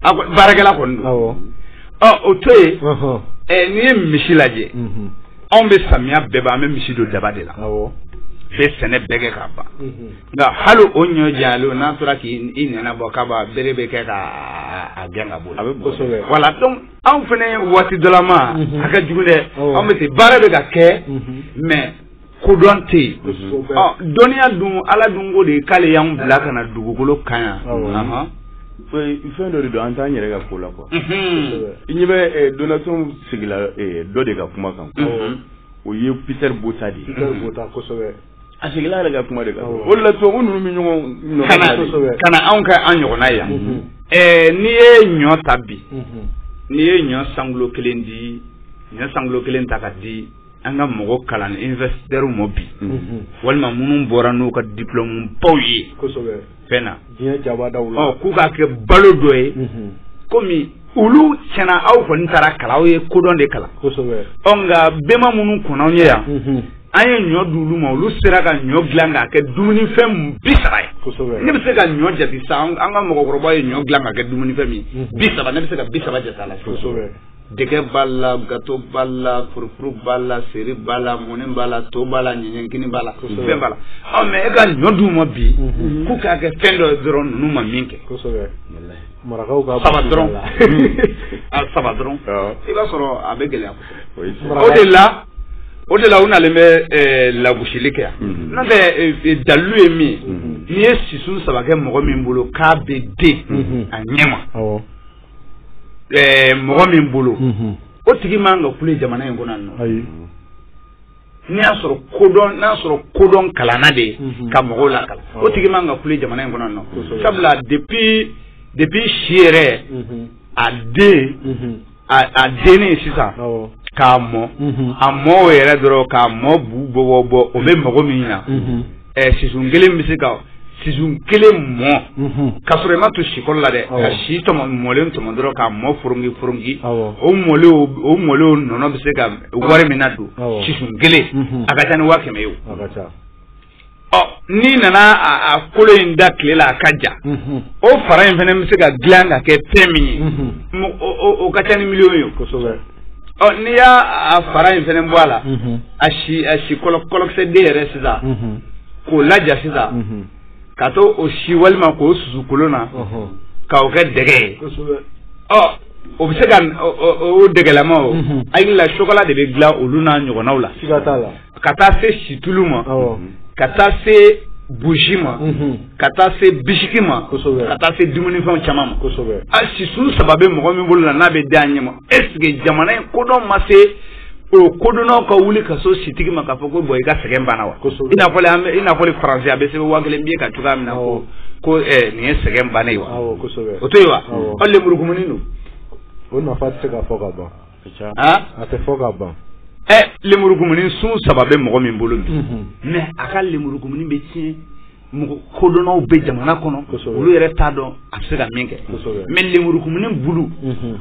ah, baarakɛla kɔni don awɔ ɔ ah, o to yen eh, n'i ye misi lajɛ mhm. anw bɛ samiya bɛɛ ban an bɛ misi don daba de la awɔ bɛ sɛnɛ bɛɛ kɛ ka ban mhm. nka hali o ɲɔ jalen n'a tora k'i nɛn bɔ k'a ban bere bɛ kɛ ka a gɛn ka bɔ yen voilà donc anw fana ye waati dɔ la maa ka jugu dɛ an bɛ se baara bɛ ka kɛ mais kodɔn tɛ yen dɔnniya dun ala dun ko de k'ale y'an bila ka na dugukolo kan yan fɛn dɔ de don an t'an yɛrɛ ka ko la quoi i ɲɛ bɛ Donald Trump sigila dɔ de ka kuma kan o ye Peter Botha de ye. Peter Botha kosɛbɛ. a sigila yɛrɛ ka kuma de kan o la tubabu ninnu bɛ ɲɔgɔn kana anw ka an ɲɔgɔnna yan mhm. eh, n'i ye ɲɔ ta bi mhm. n'i ye ɲɔ cent kilos kelen di ɲɔ cent kilos kelen ta ka di an ka mɔgɔ kalan universitaires ma bi mhm. walima minnu bɔra n'u ka diplôme baw ye fɛn na diɲɛ jamanaw la ɔ k'u k'a kɛ balo dɔ ye komi olu tiɲɛ na aw kɔni taara kalan aw ye kodɔn de kalan kosɛbɛ ɔ nka bɛnba minnu kɔnna anw ɲɛ yan an ye ɲɔ di olu ma olu sera ka ɲɔ dilan k'a kɛ dumunifɛn bi saba ye kosɛbɛ ne bɛ se ka ɲɔ jate sisan an ka mɔgɔkɔrɔbaw ye ɲɔ dilan k'a kɛ dumunifɛn min bi saba ne bɛ se ka bi saba jate a la kosɛbɛ dɛgɛ b'a la gato b'a la furufuru b'a la seri b'a la mɔni b'a la to b'a la ɲɛɲɛkini b'a la fɛn b'a la ɔ mɛ e ka ɲɔ d'u ma bi mhm. k'u k'a kɛ fɛn dɔ dɔrɔn ninnu ma min kɛ marakaw ka saba dɔrɔn a saba dɔrɔn i b'a sɔrɔ a bɛ gɛlɛya o de la o de la u nalen bɛ eh, lagosili kɛ yan mhm. n'o tɛ eh, eh, dalilu ye min ye mhm. n'i ye sisun saba kɛ mɔgɔ min bolo k'a bɛ den a ɲɛ ma ɛɛ mɔgɔ min bolo unhun o tigi man ka kule jamana in kɔnɔ nɔ ayi n'i y'a sɔrɔ kodɔn n'a sɔrɔ kodɔn kalanna de ye Mhm. ka mɔgɔw lakalan o tigi man ka kule jamana in kɔnɔ nɔ Kosɛbɛ. sabula depuis depuis si yɛrɛ unhun a den unhun a a denni sisan awɔ k'a mɔ unhun a mɔ o yɛrɛ dɔrɔn k'a mɔ bu bɔ bɔ bɔ o bɛ mago min na unhun sisun kelen bɛ se ka sisun kelen mɔ ka sɔrɔ i ma to sikɔrɔ la dɛ ka si mɔlen tɔmɔ dɔrɔn k'a mɔ foronki foronki o mɔlen nɔnɔ bɛ se ka wari min na don sisun kelen a ka ca ni waa kɛmɛ ye ɔ n'i nana a kolo in da tile la a ka ja o fara in fana bɛ se ka dilan ka kɛ fɛn min ye o ka ca ni miliyɔn ye Ɔ n'i y'a fara in fana bɔ a la a si a si kɔlɔkisɛ den yɛrɛ sisan k'o laja sisan ka to o si walima k'o susu kolon na k'o kɛ dɛgɛ ye ɔ o bɛ se ka o dɛgɛlama o hakili la sokola de bɛ dilan olu n'a ɲɔgɔnnaw la ka taa se situlu ma ka taa se buji ma ka taa se bisiki ma ka taa se dumunifɛnw caman ma a sisun saba bɛ mɔgɔ min bolo la n'a bɛ den a ɲɛ ma eseke jamana in kodɔn ma se o kodɔnnaw ka wuli ka s'o sitigi ma k'a fɔ ko bɔn i ka sɛgɛn banna wa i n'a fɔ i n'a fɔ faransi a bɛ sɛbɛn waa kelen biye kan cogoya min na ko ko eh, nin ye sɛgɛn bannen ye wa o to yen wa aw lemurukumuni don o nafa tɛ se ka fɔ ka ban a tɛ fɔ ka ban ɛ lemurukumuni sun saba bɛ mɔgɔ min bolo bi mɛ a ka lemurukumuni bɛ tiɲɛ mɔgɔ kodɔnnaw bɛ jamana kɔnɔ olu yɛrɛ t'a dɔn a bɛ se ka min kɛ mɛ lemurukumuni bulu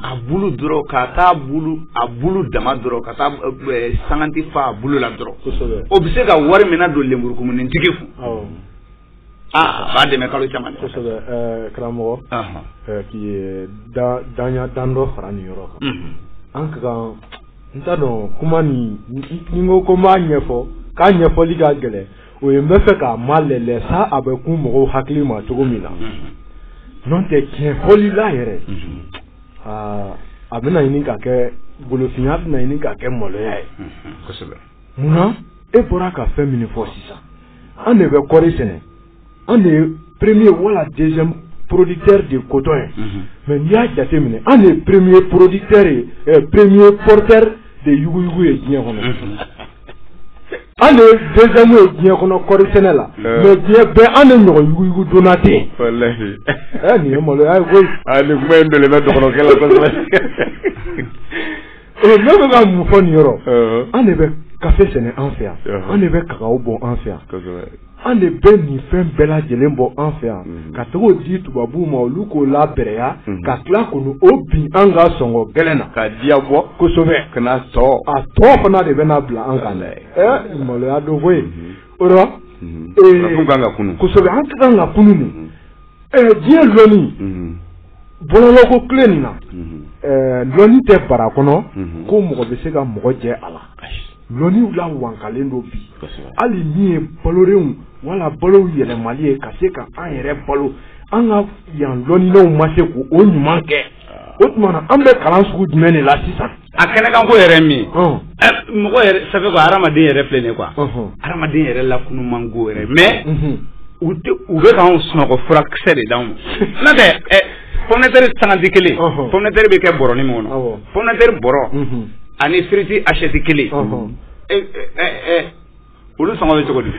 a bulu dɔrɔn ka taa bulu a bulu dama dɔrɔn ka taa sanganti fa a bulu la dɔrɔn o bɛ se ka wari min na don lemurukumunitigi kun Aa b'a dɛmɛ kalo caman karamɔgɔ k'i da dan dan dɔ fara nin yɔrɔ kan an ka kan n t'a dɔn kuma nin ko ko b'a ɲɛfɔ k'a ɲɛfɔli ka gɛlɛn o ye n bɛ fɛ k'a malɛlɛ sa a bɛ kun mɔgɔw hakili ma cogo min na n'o tɛ tiɲɛ fɔli la yɛrɛ aa a bɛna ɲini ka kɛ golofinya bɛna ɲini ka kɛ maloya ye munna e bɔra ka fɛn min fɔ sisan an de bɛ kɔri sɛnɛ an de ye premier wala deuxième producteur de coton ye mhm. mais n'i y'a jateminɛ an de ye premier producteur ye eh, premier porteur de yuguyugu ye diɲɛ kɔnɔ mhm. an de ye deuxième ye diɲɛ kɔnɔ kɔri sɛnɛ la euh. mais diɲɛ bɛɛ an de ɲɔgɔn yuguyugu donna tɛ yen walahi eh, nin ye maloya ye koyi ah, nin kuma in bɛlɛmɛ dɔgɔnɔkɛ la kosɛbɛ ee ne bɛ ka mun fɔ nin yɔrɔ an de bɛ kafe sɛnɛ an fɛ yan an de bɛ kakaw bɔ an fɛ yan an de bɛ nin fɛn bɛɛ lajɛlen bɔ an fɛ yan mhm. ka taga o di tubabuw ma olu k'o labɛrɛya mhm. ka tila k'olu o bin an kan sɔngɔ gɛlɛn na k'a diya bɔ kosɛbɛ ka na tɔ a tɔ fana de bɛna bila an kan dɛ ɛ maloya don koyi mhm. o la ee kosɛbɛ an ka kan ka kunun nin diɲɛ lɔnni bɔlɔlɔko tile nin na lɔnni tɛ bara kɔnɔ ko mɔgɔ bɛ se ka mɔgɔ jɛ a la lɔnniw lawankalen don bi hali min ye balorenw wala balow yɛlɛmali ye ka se ka an yɛrɛ balo an ka yan lɔnninaw ma se k' o ɲuman kɛ O tuma na an bɛ kalan sugu jumɛn de la sisan a kɛnɛkanko yɛrɛ min mɔgɔ sa ko hadamaden yɛrɛ filɛ de kuwa hadamaden yɛrɛ la kunun man ko yɛrɛ mɛ u bɛ ka sunɔgɔ furakisɛsɛ de' ma n tɛ fɔnɛtari sanji kelen fɔnɛtari bɛ kɛ bɔin min kɔnɔ fɔnɛtari bɔ ani siriti asɛti kelen Olu sɔngɔ bɛ cogo di?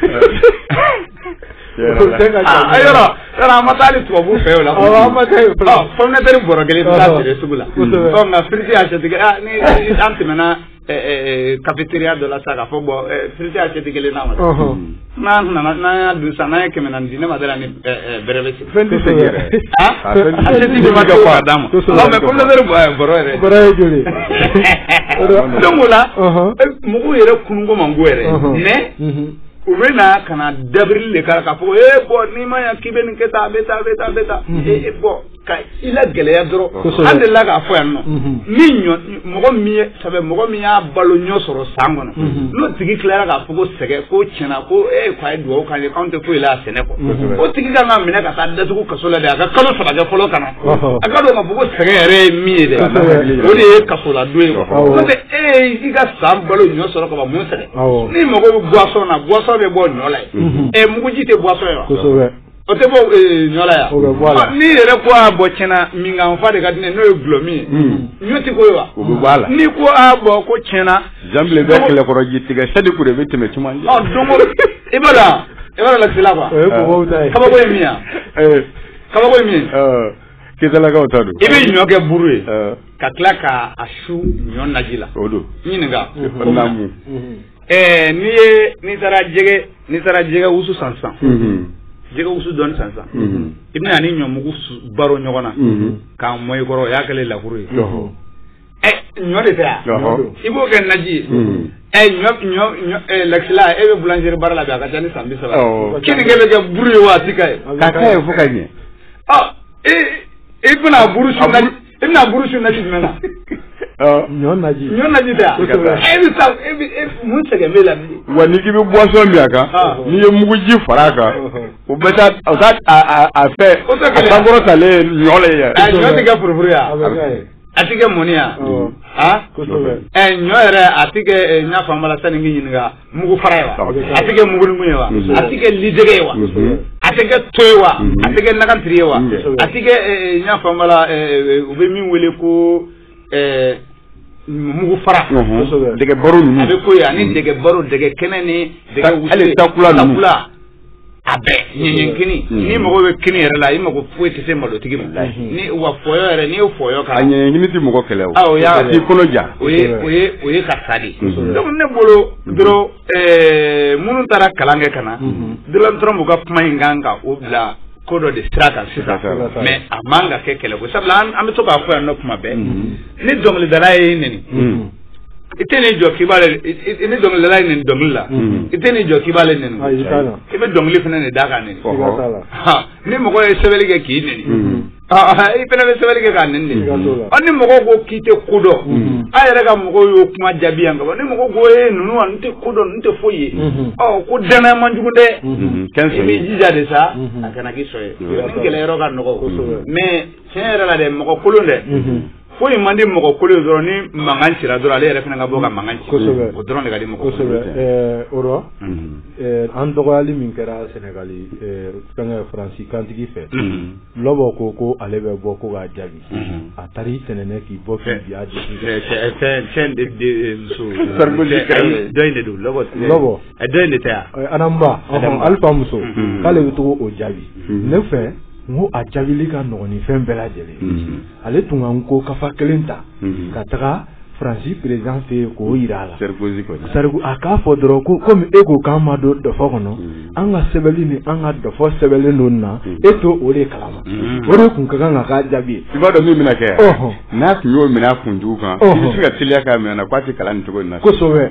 Yɔrɔ an ma taa hali tubabu fɛ yen o la, awɔ an ma taa yen fɔlɔ, pomme de terre bɔrɔ kelen i bɛ taa a feere sugu la, kosɛbɛ, ɔ nka firiti assiette kelen ni an tɛmɛna cafeteria dɔ la sisan k'a fɔ bon firiti assiette kelen na kɔni, ɔnhɔn, n'an nana n'an y'a dun sisan n'an ye kɛmɛ naani di ne ma da a la ni bɛrɛ bɛ segin Fɛn tɛ segin yɛrɛ. Han? A fɛn tɛ segin. Assiette de bɛ kɛ k'a d'a ma. Kosɛbɛ. Non mais pomme de terre ɛ bɔrɔ yɛrɛ. Bɔrɔ ye joli ye? Donc o la. Ɔnhɔn. Mɔgɔw yɛrɛ kunun ko man go yɛrɛ. Ɔnhɔn. Mais. Unhun. U bɛ na ka na dabirili de k'a la k'a fɔ ko ee bɔn n'i ma ɲa k'i bɛ nin kɛ tan a bɛ tan a bɛ tan a bɛ tan. Ee bɔn ka i lagɛlɛya dɔrɔn. Kosɛbɛ. An delila k'a fɔ yan nɔ. Unhun. Ni ɲɔ mɔgɔ min ye ça fait mɔgɔ min y'a balo ɲɔ sɔrɔ san kɔnɔ mhm. n'o tigi tilara k'a fɔ ko sɛgɛn ko tiɲɛ na ko e ko a ye dugawu k'an ye k'anw tɛ foyi la a sɛnɛ kɔ o tigi kan ka minɛ ka taa a datugu kaso la dɛ a ka kalo saba kɛ fɔlɔ ka na a k'a dɔn k'a fɔ ko sɛgɛn yɛrɛ ye min ye dɛ o de ye kasoladon ye n'o tɛ e y'i ka san balo ɲɔ sɔrɔ ka ban mun sɛgɛn n'i mago bɛ buwasɔn na buwasɔn bɛ bɔ ɲɔ la ye mhm. ɛ muguji tɛ buwasɔn ye wa O tɛ bɔ ɲɔ la yan n'i yɛrɛ ko a bɔ tiɲɛ na min ka n fa de ka di ne n'o ye dulɔmin ye ɲɔ tɛ k'o ye wa o b'a la n'i ko a bɔ ko tiɲɛ na zanbilen bɛ kɛlɛkɔrɔ ji tigɛ sadi de bɛ tɛmɛ caman i b'a la i b'a la sila quoi kabako ye min ye kabako ye min ye Keyitalakaw ta don i bɛ ɲɔ kɛ buru ye ka tila k' a su ɲɔ naji la o don ɲininka ɛɛ n'i ye n'i taara jɛgɛ n'i taara jɛgɛ wusu san sisan jɛgɛ wusu dɔɔni san sisan i bɛn'a ni ɲɔmugu baro ɲɔgɔn na k'a mɔ i kɔrɔ o y'a kɛlen lakuru ye ɛ ɲɔ de tɛ yan i b'o kɛ naji ye ɛ ɲɔ ɲɔ ɲɔ ɛ lakisila e bɛ boulangerie baara la bi a ka ca ni san bi saba keninke bɛ kɛ buru ye wa a ti ka ye k'a kɛ ye fo ka ɲɛ ɔ i i bɛna buru su naji i bɛna buru su naji jumɛn na ɲɔ naji ɲɔ naji tɛ e bɛ sa e bɛ e mun sɛgɛn b'e la wa n'i k'i bɛ boisson min a kan n'i ye muguji fara a kan o bɛ taa o taa a a fɛ a sankɔrɔ talen ɲɔ le yɛrɛ a ɲɔ tɛ kɛ furufuru ye a tɛ kɛ mɔni ye aa ɛ ɲɔ yɛrɛ a tɛ kɛ n y'a faamu la sanni n k'i ɲininka mugu fara ye wa a tɛ kɛ mugunimu ye wa a tɛ kɛ lidɛgɛ ye wa a tɛ kɛ to ye wa a tɛ kɛ nakantiri ye wa a tɛ kɛ n y'a faamu la u bɛ min wele ko mugu fara dɛgɛ baro ninnu a bɛ k'o ye ani dɛgɛ baro dɛgɛ kɛnɛ ni dɛgɛ wusuli hali takula ninnu takula a bɛɛ ɲɛɲɛkini mm. n'i mago bɛ kini yɛrɛ la i mago foyi tɛ se malotigi ma mm-hmm. ni wa fɔyɔ yɛrɛ n'i y'o fɔyɔ ka a ɲɛɲɛkini tɛ mɔgɔ kɛlɛ o ah, o t'i kɔnɔ ja o ye o ye o ye ka sa de mm-hmm. donc ne bolo mm-hmm. dɔrɔn eh, minnu taara kalan kɛ ka na dɔrɔn dɔrɔn b'u ka kuma in kan ka o bila ko dɔ de sira kan sisan mais a man ka kɛ kɛlɛko sabula an bɛ to k'a fɔ yan nɔ kuma bɛɛ ni dɔnkilidala y'i neni i tɛn'i jɔ k'i b'ale i ni dɔnkilidala y'i neni dɔnkili la i tɛn'i jɔ k'i b'ale neni i bɛ dɔnkili fana de da k'a neni ni mɔgɔ ye sɛbɛnni kɛ k'i neni i fana bɛ sɛbɛnni kɛ k'a neni de ɔ ni mɔgɔ ko k'i tɛ ko dɔn a yɛrɛ ka mɔgɔw y'o kuma jaabi yan ka ban ni mɔgɔ ko ee ninnu wa n tɛ ko dɔn n tɛ foyi ye ɔ ko danaya man jugu dɛ i b'i jija de sa a kana k'i sɔn ye ni kɛlɛyɔrɔ ka nɔgɔ mais tiɲɛ yɛrɛ la dɛ mɔgɔ kolon dɛ foyi man di mɔgɔ kolon ye dɔrɔn ni mankan cira dɔrɔn ale yɛrɛ fana ka bɔ ka mankan ci kosɛbɛ o dɔrɔn de ka di mɔgɔ kosɛbɛ ɛɛ o rɔ an dɔgɔyali min kɛra sɛnɛgali fɛngɛ faransi kantigi fɛ lɔbɔ ko ko ale bɛ bɔ ko k'a jaabi a taara i tɛnɛnɛ k'i bɔ k'i bi a jaabi fɛn fɛn de de muso dɔ in de don lɔbɔ lɔbɔ dɔ in de tɛ yan adamu ba alifa muso k'ale bɛ taga o jaabi ne fɛ n ko a jaabili ka nɔgɔn ni fɛn bɛɛ lajɛlen ale tun ka nko kafa kelen ta ka taga faransi président fɛ yen k'o yira a la sarko a k'a fɔ dɔrɔn ko komi e ko k'an ma don dɔfɔ kɔnɔ an ka sɛbɛnni ni an ka dɔfɔ sɛbɛnlen don na e to o de kalama o de tun ka kan ka k'a jaabi ye i b'a dɔn min bɛna kɛ n'a tun y'o minɛ a kunjugu kan i bɛ se ka teliya k'a minɛ na k'a tɛ kalan nin cogo in na kosɛbɛ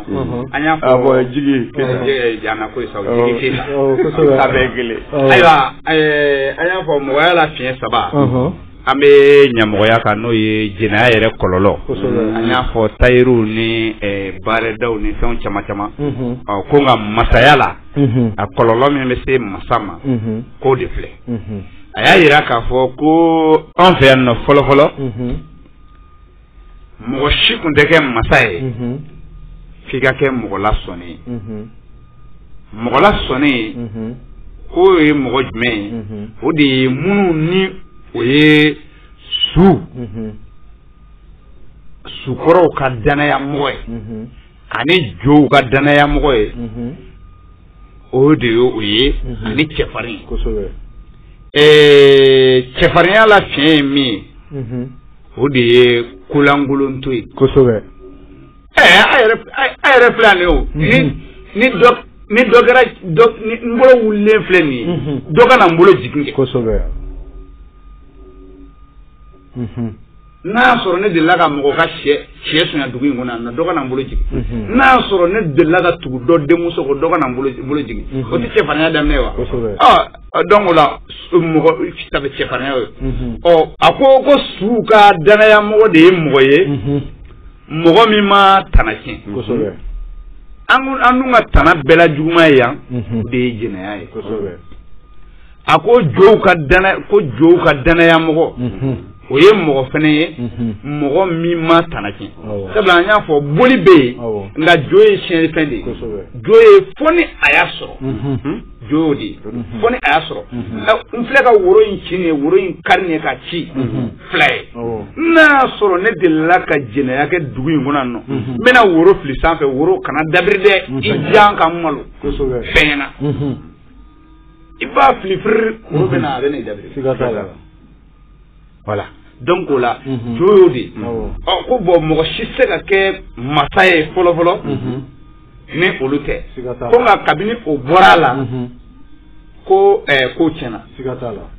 an y'a fɔ jigi jana ko sa jigi sa bɛɛ kelen ayiwa an y'a fɔ mɔgɔya la fiɲɛ saba an bɛ ɲamɔgɔya kan n'o ye jɛnɛya yɛrɛ kɔlɔlɔ an y'a fɔ tayiruw ni baarɛdaw ni fɛnw caman caman ɔ ko nka masaya la a kɔlɔlɔ min bɛ se masa ma k'o de filɛ a y'a yira k'a fɔ ko an fɛ yan nɔ fɔlɔfɔlɔ mɔgɔ si tun tɛ kɛ masa ye f'i ka kɛ mɔgɔ lasɔnnen ye mɔgɔ lasɔnnen ye k'o ye mɔgɔ jumɛn ye o de ye minnu ni o ye su sukɔrɔw ka danayamɔgɔ ye ani jow ka danayamɔgɔ ye o de ye o ye ani cɛfarin cɛfarinya la fiɲɛ ye min ye o de ye kolankolonto ye kosɛbɛ ɛɛ a yɛrɛ a yɛrɛ filɛ ale o ni mhm. ni dɔ ni dɔ kɛra dɔ ni n bolo wulilen filɛ nin ye mhm. dɔ ka na n bolo jigin kɛ kosɛbɛ mhm. n'a y'a sɔrɔ ne delila ka mɔgɔ ka sɛ sɛ sonya dugu in kɔnɔ yan nɔ dɔ ka na n bolo jigin n'a y'a sɔrɔ ne delila ka tugu dɔ denmuso kɔ dɔ ka na n bolo jigin o tɛ cɛfarinya daminɛ ye wa kosɛbɛ ɔ donc o la mɔgɔ sabu cɛfarinya ye ɔ a ko ko suw ka danaya mɔgɔ de ye mɔgɔ ye mɔgɔ min ma tana tiɲɛ kosɛbɛ an an dun ka tana bɛɛ la juguman ye yan de ye jɛnɛya ye kosɛbɛ a ko jow ka ko jow ka danaya mɔgɔ o ye mɔgɔ fana ye mɔgɔ min ma tana tiɲɛ sabula an y'a fɔ boli bɛ yen nka jo ye siyɛnfɛn de ye jo ye fo ni a y'a sɔrɔ jo y'o de ye fo ni a y'a sɔrɔ n filɛ ka woro in ci nin ye woro in kari nin ye k'a ci fila ye n'a y'a sɔrɔ ne delila ka jɛnɛya kɛ dugu in kɔnɔ nɔ n bɛna woro fili sanfɛ woro kana dabiri dɛ i jan ka malo fɛn na i b'a fili firi woro bɛ na a bɛ na i dabiri voilà donc o la mhm. jo y'o de ɔ ko bon mɔgɔ si tɛ se ka kɛ masa ye fɔlɔfɔlɔ mhm. ni olu tɛ ko nka kabini o bɔra a la mhm. ko ɛɛ ko tiɲɛna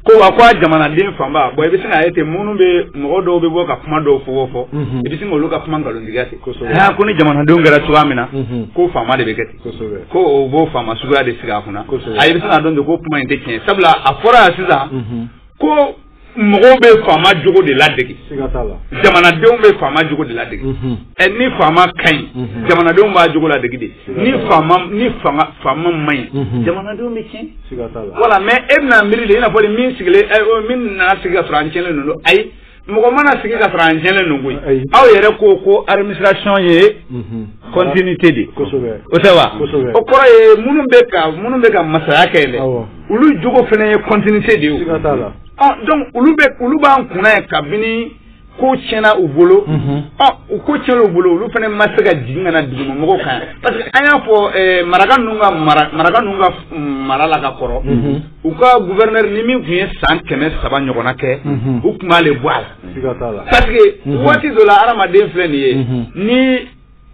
ko wa ko a jamanaden fanba bon i bɛ se k'a ye ten minnu bɛ mɔgɔ dɔw bɛ bɔ ka kuma dɔw fɔ fɔ i bɛ se k'olu ka kuma nkalontigiya ten aa ko ni jamanadenw kɛra cogoya min na ko faama de bɛ kɛ ten ko o b'o faama suguya de sigi a kunna a i bɛ se k'a dɔn ten ko kuma in tɛ tiɲɛ sabula a fɔra yan sisan. ko mɔgɔw bɛ faama jogo de ladege jamanadenw bɛ faama jogo de ladege mhm. ɛ ni faama ka ɲi mhm. jamanadenw b'a jogo ladege de ni faama ni fanga faama man ɲi mhm. jamanadenw bɛ tiɲɛ voilà mais e bɛna miiri de i n'a fɔ min sigilen min nana sigi k'a sɔrɔ an tiɲɛlen don ayi mɔgɔ mana sigi ka sɔrɔ an jɛlen don koyi aw yɛrɛ ko ko administration ye mhm. continuité de o tɛ wa o kɔrɔ ye minnu bɛ ka minnu bɛ ka masaya kɛ dɛ olu jogo fana ye continuité de ye o donc olu bɛ olu b'an kunna ye kabini ko tiɲɛna u bolo mhm. u ko tiɲɛna u bolo olu fana ma se ka jigin ka na duguma mɔgɔw kan parce que an y'a fɔ maraka ninnu ka mara maraka ninnu ka mara la ka kɔrɔ mhm. u ka gouverneur ni min tun ye san kɛmɛ saba ɲɔgɔnna kɛ u tun b'ale bɔ a la parce que waati dɔ la adamaden filɛ nin ye ni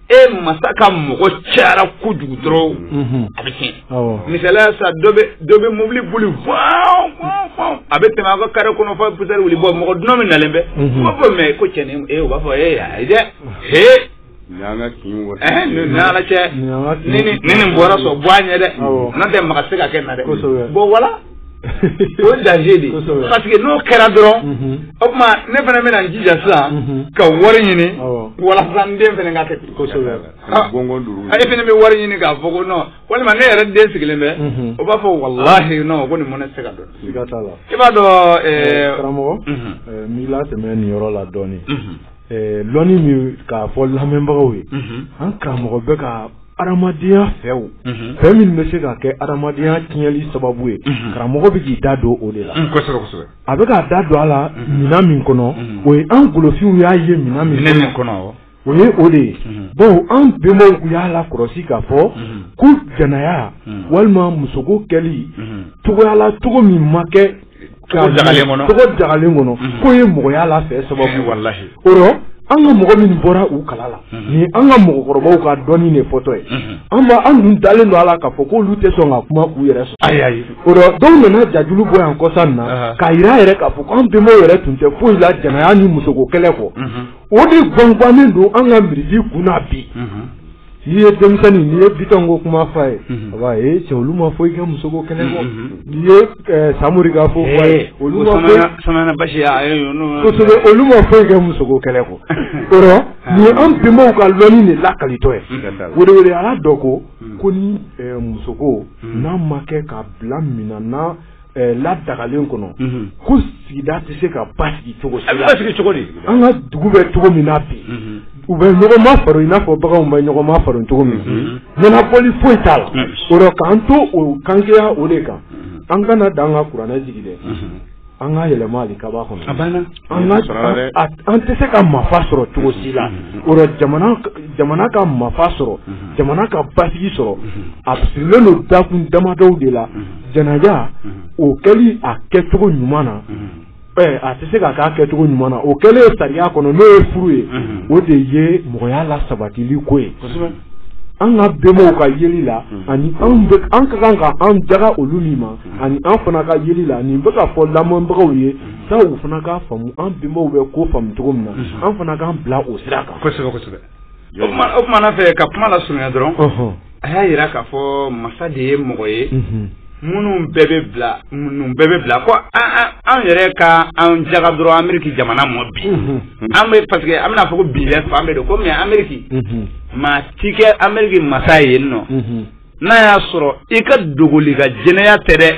e masa ka mɔgɔ cayara kojugu dɔrɔn a bɛ tiɲɛ misaliya sa dɔ bɛ mobili boli a bɛ tɛmɛ a ka carré kɔnɔ fo poussière wuli bɔ mɔgɔ dunan min nalen bɛ o b'a fɔ mais ko cɛ nin u b'a fɔ ayi dɛ Nin y'an ka kin wɔsi. Ɛɛ ni ni ala cɛ ni ni nin bɔra so bɔ a ɲɛ dɛ n'o tɛ maga tɛ se ka kɛ nin na dɛ bon voilà o ye danger de ye parce que n'o kɛra dɔrɔn mhm. o tuma ne fana bɛna n jija sa mhm. ka wari ɲini walasa n den fana ka kɛ ten kosɛbɛ ah. e fana bɛ wari ɲini k'a fɔ ko non walima ne yɛrɛ den sigilen bɛ mhm. o b'a fɔ walahi non ko nin mɔnɛ tɛ se ka don i b'a dɔn eh, eh, karamɔgɔ eh, n b'i latɛmɛ nin yɔrɔ la dɔɔnin dɔnni min k'a fɔ lamɛnbagaw ye an karamɔgɔ bɛ ka adamadenya fɛn o fɛn min bɛ se ka kɛ adamadenya tiɲɛli sababu ye karamɔgɔ bɛ k'i da don o de la a bɛ k'a da don a la minɛn min kɔnɔ o ye an golofinw y'a ye minɛn min min kɔnɔ o ye o de ye bon an bɛnbaw y'a lakɔlɔsi k'a fɔ ko jɛnɛya walima musoko kɛli cogoya la cogo min ma kɛ an ka mɔgɔ minw bɔra u kala la ni an ka mɔgɔkɔrɔbaw ka dɔnni de fɔtɔ ye an an dun dalen don a la k'a fɔ k'olu tɛ sɔn ka kuma k'u yɛrɛ sɔrɔ dɔw nana jajulu bɔ yan kɔsa in na k'a yira yɛrɛ k'a fɔ k'an bɛnbaw yɛrɛ tun tɛ foyi la jɛnɛya ni musoko kɛlɛ kɔ o de gwangannen don an ka miiri kun na bi n'i ye denmisɛnnin n'i ye bitɔn ko kuma fɔ a ye a b'a ye cɛ olu ma foyi kɛ musoko kɛlɛ kɔ n'i ye samori ka fɔ fɔ a ye olu ma fɔ kosɛbɛ olu ma foyi kɛ musoko kɛlɛ kɔ o rɔ nin ye an bɛnbaw ka lɔnni de lakalitɔ ye olu de olu de y'a dɔn ko kɔni musoko n'a ma kɛ ka bila minɛn na ladagalen kɔnɔ ko sigida tɛ se ka basigi cogo an ka dugu bɛ cogo min na bi u bɛ ɲɔgɔnma fara i n'a fɔ baganw bɛ ɲɔgɔnma fara cogo min ɲɛnabɔli foyi t'a la o rɔ k'an to o kanya o de kan an kana dan an ka kuranɛ jigin dɛ an ka yɛlɛma hali kaba kɔnɔ An tɛ se ka mafa sɔrɔ cogo si la o la jamana ka mafa sɔrɔ jamana ka basigi sɔrɔ a sirilen don dakun damadɔw de la jɛnɛya o kɛli a kɛcogo ɲuman na a tɛ se ka k'a kɛcogo ɲuman na o kɛli ye sariya kɔnɔ n'o ye furu ye o de ye mɔgɔya lasabatili ko ye an ka bɛnbaw ka yeli la ani an ka kan ka an jaga olu min ma ani an fana ka yeli la nin bɛ ka fɔ lamɛnbagaw ye sa u fana k'a faamumu an bɛnbaw bɛ ko faamu cogo min na an fana k'an bila o sira kan kosɛbɛ kosɛbɛ o tuma na fɛ ka kuma lasurunya dɔrɔn a y'a yira k'a fɔ masa de ye mɔgɔ ye minnu bɛɛ bɛ bila ko an yɛrɛ ka an jaga dɔrɔn Ameriki jamana mɔ bi an bɛ parce que an bɛna fɔ ko bi fan bɛɛ don ko mais Ameriki maatigi Ameriki masa ye yen nɔ n'a y'a sɔrɔ i ka dogoli ka jɛnɛya tɛ dɛ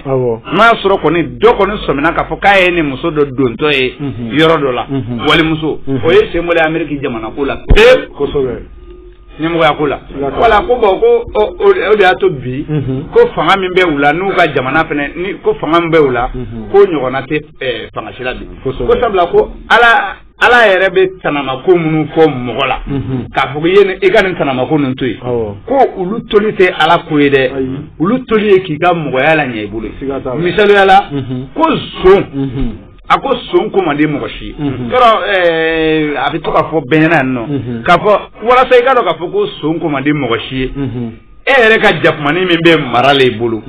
n'a y'a sɔrɔ kɔni dɔ kɔni sɔmina k'a fɔ k'a y'a ni muso dɔ dontɔ ye mhm. yɔrɔ dɔ la mhm. walimuso mhm. o ye senbɔlen ameriki jamana ko la pewu kosɛbɛ ɲɛmɔgɔya ko la voilà ko bon ko o de y'a to bi ko fanga min bɛ u la n'u ka jamana fana ni ko fanga min bɛ u la ko ɲɔgɔnna tɛ fanga si la bi ko sabula ko ala Ala yɛrɛ bɛ tanamako minnu kɔn mɔgɔ la k'a fɔ i ye i ka nin tanamako ninnu to yen ko olu toli tɛ ala ko ye dɛ olu toli ye k'i ka mɔgɔya laɲɛ i bolo misaliya la ko son a ko son ko man di mɔgɔ si ye yɔrɔ a bɛ to k'a fɔ bɛn ɲɛna yan nɔ k'a fɔ walasa i k'a dɔn k'a fɔ ko son ko man di mɔgɔ si ye e yɛrɛ ka jakumanin min bɛ maralen i bolo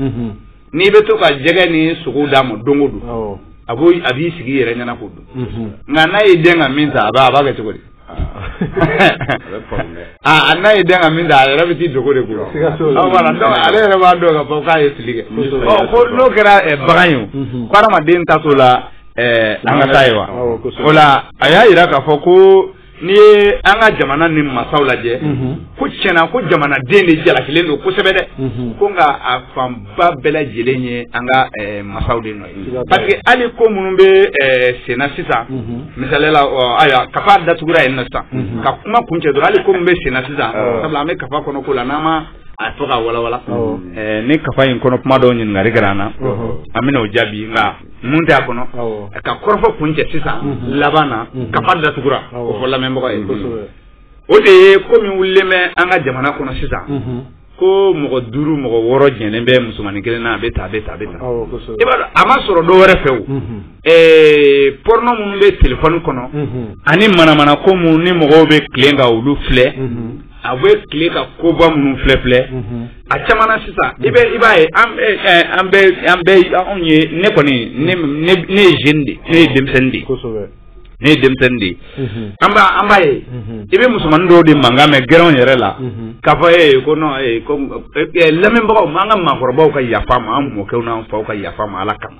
n'i bɛ to ka jɛgɛ ni sogo d'a ma don o don awɔ a b'o a b'i sigi i yɛrɛ ɲɛna k'o dun unhun nka n'a y'i dɛn ka min ta a b'a a b'a kɛ cogo di a bɛ faamu dɛ aa a n'a y'i dɛn ka min ta a yɛrɛ bɛ t'i dogo de ko la Siga t'o la. Ɔ, voilà, donc ale yɛrɛ b'a dɔn k'a fɔ k'a ye fili kɛ Kosɛbɛ. Ɔ, ko n'o kɛra eh, bagan ye o Mhm. ko hadamaden ta t'o la eh, an ka taa ye wa Awɔ, kosɛbɛ. o la a y'a yira k'a fɔ ko N'i ye an ka jamana nin masaw lajɛ ko tiɲɛ na ko jamanaden de jalakilen don kosɛbɛ dɛ ko nka a fanba bɛɛ lajɛlen ye an ka masaw de nɔ ye parce que hali ko minnu bɛ senna sisan misali la ayiwa kafa datugura yen na sisan ka kuma kuncɛ dɔrɔn hali ko minnu bɛ senna sisan sabula an bɛ kafa kɔnɔ ko la n'an ma a fɔ ka walawala ni kafa in kɔnɔ kuma dɔw ɲininkali kɛra an na an bɛna o jaabi nka mun tɛ a kɔnɔ ka kɔrɔfɔ kuncɛ sisan laban na kafa datugura o fɔ lamɛnbagaw ye o de ye ko min wulilen bɛ an ka jamana kɔnɔ sisan ko mɔgɔ duuru mɔgɔ wɔɔrɔ jɛlen bɛ musomannin kelen na a bɛ taa a bɛ taa a bɛ taa i b'a dɔn a ma sɔrɔ dɔ wɛrɛ fɛ o porno minnu bɛ telefɔni kɔnɔ ani manamana ko minnu ni mɔgɔw bɛ tilen ka olu filɛ a bɛ tile ka koba minnu filɛ filɛ a caman na sisan i bɛ i b'a ye an bɛ an bɛ an bɛ anw ye ne kɔni ne ne ne ye jeune de ne ye denmisɛnnin de ye ne ye denmisɛnnin de ye an b'a an b'a ye i bɛ musomanin dɔw de mankan mɛn gɛrɛnw yɛrɛ la k'a fɔ ee ko non ee ko lamɛnbagaw n'an ka maakɔrɔbaw ka yafa n ma an mɔkɛw n'an faw ka yafa n ma ala kama.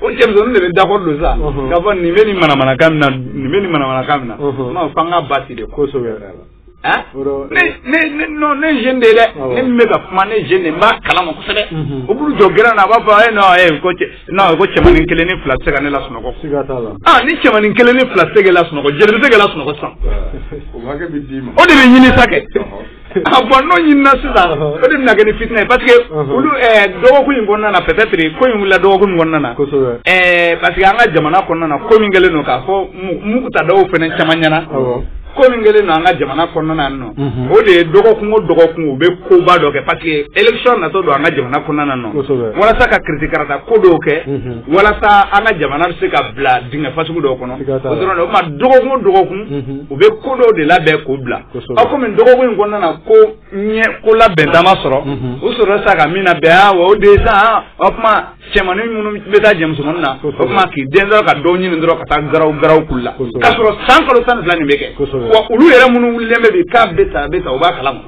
o cɛmisɛnnin de bɛ d'accord don sa k'a fɔ nin bɛ nin manamanakan min na nin bɛ nin manamanakan min na n'o f'an ka basi de kosɛbɛ yɛrɛ la. Hein? Ne, ne, ne, non, ne jeune de ye dɛ. Awɔ. Ne min bɛ ka kuma ne jeune de n b'a kalama kosɛbɛ. Mhm. O b'u jɔ gɛrɛn na a b'a fɔ eh non eh ko cɛ non ko cɛmanin kelen ni fila tɛ se ka ne lasunɔgɔ. Siga t'a la. Ah ni cɛmanin kelen ni fila tɛ se k'e lasunɔgɔ joli bɛ se k'e lasunɔgɔ sisan. O hakɛ bɛ d'i ma. O de bɛ ɲini sa kɛ. Ɔhɔ. Ah, bɔn n'o ɲinina sisan o de bɛna kɛ ni fitinɛ ye parce que olu eh, dɔgɔkun in kɔnɔna na peut-être ko in wulila dɔgɔkun min kɔnɔna na eh, parce que an ka jamana kɔnɔna na ko min kɛlen don k'a fɔ muguta dɔw fana caman ɲɛna ko min kɛlen don an ka jamana kɔnɔna yan nɔ mhm. o de ye dɔgɔkun o dɔgɔkun u bɛ koba dɔ kɛ parce que élection natɔ don an ka jamana kɔnɔna nɔ walasa ka kiritikarata ko dɔw kɛ mhm. walasa an ka jamana bɛ se ka bila dingɛ fasugu dɔw kɔnɔ o dɔrɔn de o tuma dɔgɔkun o dɔgɔkun mhm. u bɛ ko dɔw de labɛn k'o bila aw komi dɔgɔkun in kɔnɔna na ko ɲɛ ko labɛnta ma sɔrɔ u sɔrɔ sa ka min labɛn aa o de sa o tuma cɛmanin minnu bɛ taa jɛ musomanin na o tuma k'i den dɔrɔn ka dɔw ɲini dɔrɔn ka taa garaw garaw k'u la k'a sɔrɔ san kalo tan ni fila nin bɛ kɛ wa olu yɛrɛ minnu wulilen bɛ bi k'a bɛ ta a bɛ ta u b'a kalama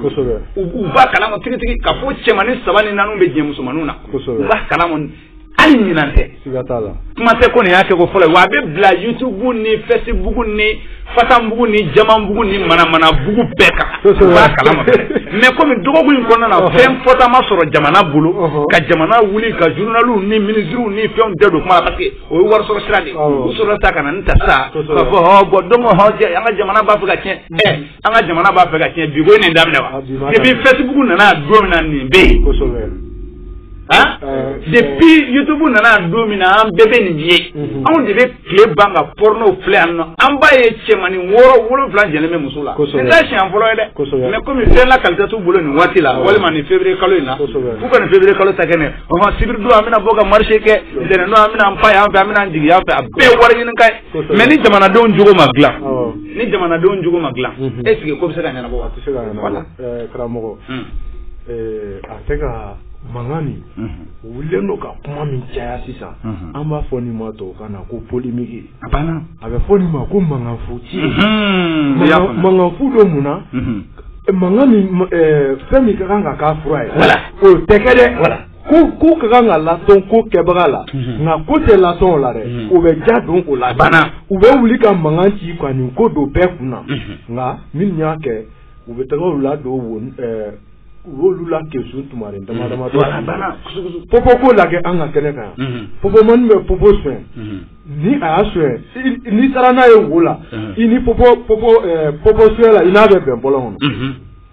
u b'a kalama tigitigi k'a fɔ cɛmanin saba ni naani bɛ jɛ musomaninw na u b'a kalama hali ɲinan tɛ siga t'a la kuma tɛ ko nin y'a kɛko fɔlɔ ye wa a bɛ bila youtube ni facebook ni fatanbugu ni jamanbugu ni manamanabugu bɛɛ kan u b'a kalama mais komi dɔgɔkun in kɔnɔna na fɛn fɔta ma sɔrɔ jamana bolo ka jamana wuli ka journaliw ni ministres ni fɛnw bɛɛ don kuma la parce que o ye warisɔrɔ sira de ye u sɔrɔla sa ka na nin ta sa k'a fɔ hɔ bɔn donc hɔ an ka jamana b'a fɛ ka tiɲɛ an ka jamana b'a fɛ ka tiɲɛ bi ko ye nin daminɛ wa depuis ah, facebook nana don min na nin bɛ yen han eh, depuis eh. youtube nana don min na an bɛɛ bɛ nin ye mhm. anw de bɛ tile ban ka porno filɛ yan nɔ an b'a ye cɛmanin wɔɔrɔ wolonfila jɛlen bɛ muso la nin t'a siɲɛ fɔlɔ ye dɛ mais komi fɛn lakalita t'u bolo nin waati la walima nin février kalo in na f'u ka nin février kalo ta kɛ nɛ ɔhɔn sibiri don an bɛna bɔ ka marché kɛ ntɛnɛn don an bɛna an pan yan fɛ an bɛna an jigin yan fɛ a bɛɛ ye wari ɲini kan ye mais ni jamanadenw jogo ma dila ni jamanadenw jogo ma dila mhm. est-ce que ko bɛ se ka ɲɛnabɔ wa se ka ɲɛnabɔ eh, karamɔgɔ hmm. eh, a tɛ ka mankan nin mhm. wulilen don ka kuma min caya sisan mhm. an b'a fɔ nin ma tubabukan na ko polémique a banna a bɛ fɔ nin ma ko mankanfu ci mankanfu don mun na eh, mankan min fɛn min ka kan ka k'a fura ye o tɛ kɛ dɛ ko ko ka kan ka latɔn ko kɛbaga la mhm. nka ko tɛ latɔn o la dɛ mhm. o bɛ ja don o la bana u bɛ wuli ka mankan ci ka nin ko don bɛɛ kun na mhm. nka minnu y'a kɛ u bɛ taga u la don wo ɛɛ u y'olu la kesu tumaren dama dama dɔ popo ko la kɛ an ka kɛnɛ kan yan popo mɔni bɛ popo sonyɛ ni a y'a sonyɛ n'i taara n'a ye wo la i ni popo popo ɛɛ popo sonyɛla i n'a bɛ bɛn bɔlɔn kɔnɔ.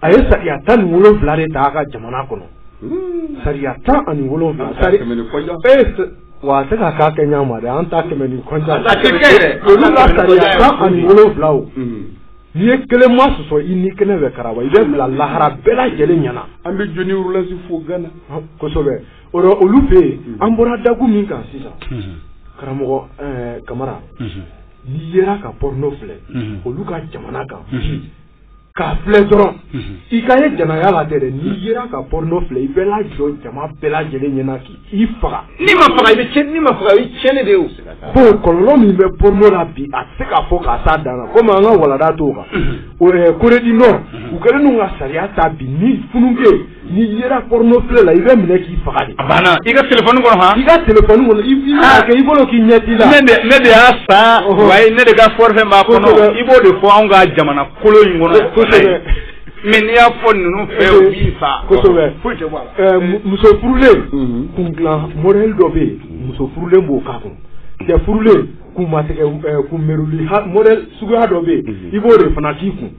a ye sariya tan ni wolonwula de ta a ka jamana kɔnɔ hmm. sariya tan ani wolonwula wa a tɛ ka k'a kɛ ɲa ma dɛ an ta kɛmɛ ni kɔnja olu ka sariya tan ani wolonwula o hmm. n'i ye kelen masɔsɔ i ni kɛnɛ bɛ karaba i bɛ bila lahara bɛɛ lajɛlen ɲɛna an bɛ john rawlings fo gana kosɛbɛ o la olu fɛ yen hmm. an bɔra dakun min kan sisan karamɔgɔ kamara n'i yera ka pɔrɔno filɛ olu ka jamana kan k'a filɛ dɔrɔn i ka ye jɛnɛya la tɛ dɛ n'i yera ka pɔrɔnɔ filɛ i bɛ lajɔ jama bɛɛ lajɛlen ɲɛna k'i i faga n'i ma faga i bɛ cɛn n'i ma faga i cɛnni de ye o bon kɔlɔlɔ min bɛ pɔrɔnɔ la bi a tɛ se ka fɔ k'a s'a dan na komi an ka walanda t'o kan o yɛrɛ corée du nord u kɛlen don ka sariya ta bi ni funankɛ N'i yera porno filɛ la, i bɛ minɛ k'i faga de. A banna i ka telephone kɔnɔ han. I ka telephone kɔnɔ i b'i n'a kɛ i bolo k'i ɲɛ t'i la. Ne de ne de y'a san. Ɔhɔn. Wa ne de ka forfait b'a kɔnɔ. Kosɛbɛ. I b'o de fɔ anw ka jamana kolo in kɔnɔ. Ko kosɛbɛ. Mais n'i y'a fɔ ninnu fɛ u b'i faa. Kosɛbɛ. Foyi tɛ bɔ a la. Ɛɛ mu muso furulen. Unhun. Kun dilan modèle dɔ bɛ yen. Muso furulen b'o k'a kun. Cɛ furulen kun matigɛ ɛɛ kun meruli ha modèle suguya dɔ bɛ yen. Unhun. I b'o de fana k'i kun.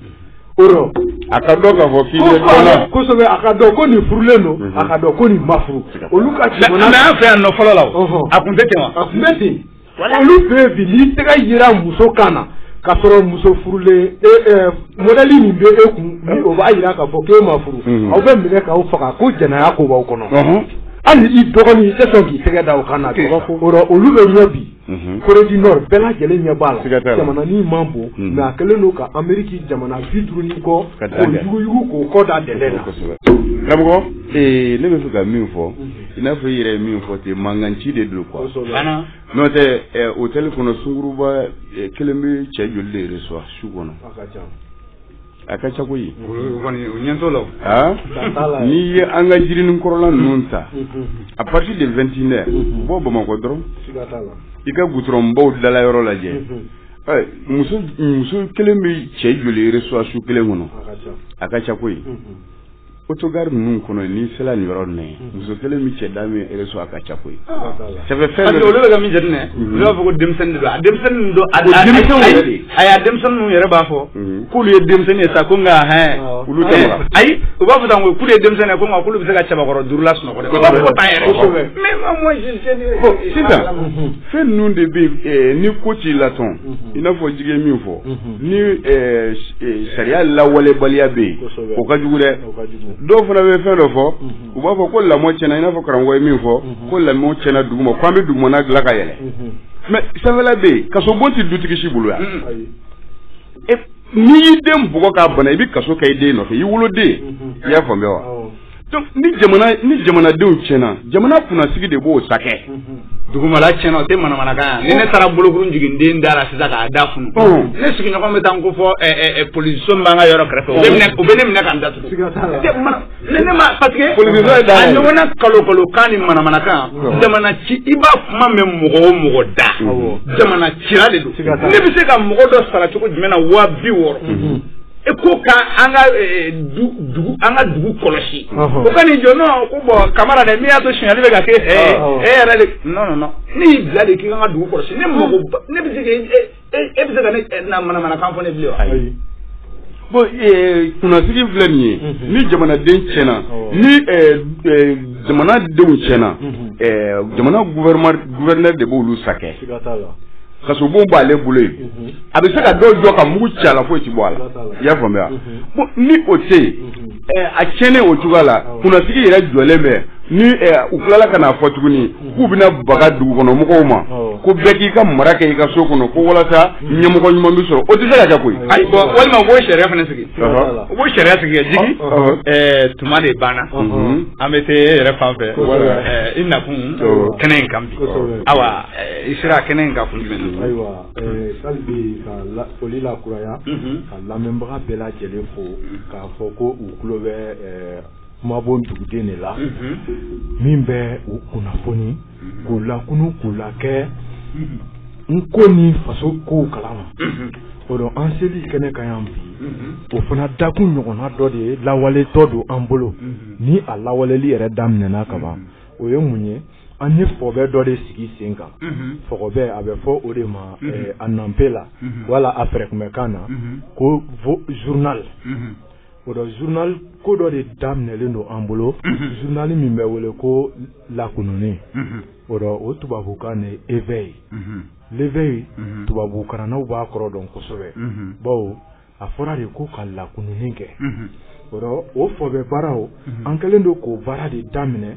a ka dɔn k'a fɔ k'i bɛ dɔ la kosɛbɛ a ka dɔn ko nin furulen don mhm. a ka dɔn ko nin ma furu olu ka jamana mais an fɛ yan nɔ fɔlɔ la o a tun tɛ ten wa a tun bɛ ten olu fɛ yen bi n'i tɛgɛ yera muso kan na k'a sɔrɔ muso furulen e ɛ mɔdɛli min bɛ e kun ni o b'a yira k'a fɔ k'e ma furu mhm. aw bɛ minɛ k'aw faga ko jɛnɛya ko b'aw kɔnɔ hali i dɔgɔnin i tɛ sɔn k'i tɛgɛ da o kan na o rɔ olu bɛ ɲɛ bi Corée du Nord bɛɛ lajɛlen ɲɛ b'a la, siga t'a la, jamananin man bon mais a kɛlen don ka Ameriki jamana bi duuru ni kɔ k'o yuguyugu k'o kɔ da dɛnɛn na, kosɛbɛ, karamɔgɔ ee ne bɛ fɛ ka min fɔ i n'a fɔ i yɛrɛ ye min fɔ ten mankanci de don quoi, kosɛbɛ, n'o tɛ ɛ hotel kɔnɔ sunguruba kelen bɛ cɛ joli de reçoit su kɔnɔ, a ka ca a ka ca koyi o ɲɛ t'o la n'i ye an ka jirinin kɔrɔla ninnu ta à partir de vingt-et-une heures bɔ bamakɔ dɔrɔn i ka gudɔrɔnbaw dala yɔrɔ lajɛ muso kelen bɛ cɛ joli reçoit su kelen kɔnɔ a ka ca koyi autogare ninnu kɔnɔ yen n'i sera nin yɔrɔ ninnu ye muso kelen bɛ cɛ da min reçoit a ka ca koyi ça fait fɛn dɔ olu bɛ ka min jateminɛ olu b'a fɔ ko denmisɛnnin de don a denmisɛnnin ninnu don a denmisɛnninw yɛrɛ de ayi a denmisɛnnin ninnu yɛrɛ b'a fɔ k'olu ye denmisɛnnin ye sa ko nka hɛn olu tɛ wa ayi u b'a fɔ tan ko k'olu ye denmisɛnnin ye ko nka k'olu bɛ se ka cɛbakɔrɔ duuru lasunɔgɔ dɛ u b'a fɔ ko tan yɛrɛ mais ma moi je sais bon sisan fɛn ninnu de bɛ yen ni ko t'i la tɔn i n'a fɔ jigi ye min fɔ ni eh, eh, sariya lawalebaliya bɛ yen o ka jugu dɛ dɔw fana bɛ fɛn dɔ fɔ mhm. u b'a fɔ ko lamɔ tiɲɛna i n'a fɔ karamɔgɔ ye min fɔ mhm. ko lamɔ tiɲɛna duguma ko an bɛ dugumana dilan ka yɛlɛ mhm. mais sanfɛla bɛ yen kasobon tɛ dutigi si bolo yan n'i y'i den bugɔ k'a bana i bɛ kaso kɛ i den nɔfɛ i woloden i y'a faamuya wa ni ni jamanadenw tiɲɛna jamana kunnasigi de b'o sakɛ dugumala tiɲɛna o tɛ manamanakan yan ni ne taara bolokuru jigin den da la sisan k'a da funu ne sigiɲɔgɔn bɛ taa n ko fɔ polisiso min b'an ka yɔrɔ kɛrɛfɛ u bɛ ne minɛ ka n datugu ne ne ma parce que a ɲɔgɔnna kalokalokan ni manamanakan jamana ci i b'a kuma mɛn mɔgɔ o mɔgɔ da jamana cira de don ne bɛ se ka mɔgɔ dɔ sara cogo jumɛn na waa bi wɔɔrɔ E ko ka an ka dugu kɔlɔsi o ka nin jɔn ko bɔn kamara dɛ min y'a to sili bɛ ka kɛ e yɛrɛ de ne y'i bila de k'i ka dugu kɔlɔsi ne ne bɛ se e bɛ se ka na manamanakan fɔ ne bilen ayi bon kunnasigi filɛ nin ye ni jamanaden tiɲɛna ni jamanadenw tiɲɛna jamana gouverneur de b'olu sakɛ kasobon b'ale bolo yen mhm. a bɛ se ka dɔw jɔ ka mugu ci a la foyi ti bɔ a la i y'a faamuya bon mhm. ni o tɛ yen mhm. a tiɲɛnen o cogoya la kunnasigi yɛrɛ jɔlen bɛ ni u tilala ka n'a fɔ tuguni k'u bɛna baga dugukɔnɔmɔgɔw ma ko bɛɛ k'i ka mara kɛ i ka so kɔnɔ ko walasa ɲɛmɔgɔ ɲuman bɛ sɔrɔ o tɛ se ka kɛ koyi. ayi bɔn walima u b'o sariya fana sigi u b'o sariya sigi ka jigi tuma de banna an bɛ se e yɛrɛ fan fɛ i nakun kɛnɛ in kan. i sera kɛnɛ in kan kun jumɛn na ayiwa hali bi ka foli lakuraya ka lamɛnbaga bɛɛ lajɛlen fo k'a fɔ ko u tulo bɛ kumabon duguden de la min bɛ u kunnafoni k'u lakunun k'u la kɛ n ko ni faso kow kalama o don an selen kɛnɛ kan yan bi o fana dakun ɲɔgɔnna dɔ de ye lawaletɔ don an bolo ni a lawaleli yɛrɛ daminɛna kaban o ye mun ye an ye fɔɔbɛ dɔ de sigi sen kan fɔɔbɛ a bɛ fɔ o de ma a nɔfɛ la wala a fɛ tun bɛ kan na ko journal o dɔ journal ko dɔ de daminɛlen don an bolo journal min bɛ wele ko lakununni o dɔ o tubabukan de éveil l'éveil tubabukalannaw b'a kɔrɔ dɔn kosɛbɛ baw a fɔra de ko ka lakununni kɛ o fɔbɛ baaraw an kɛlen don k'o baara de daminɛ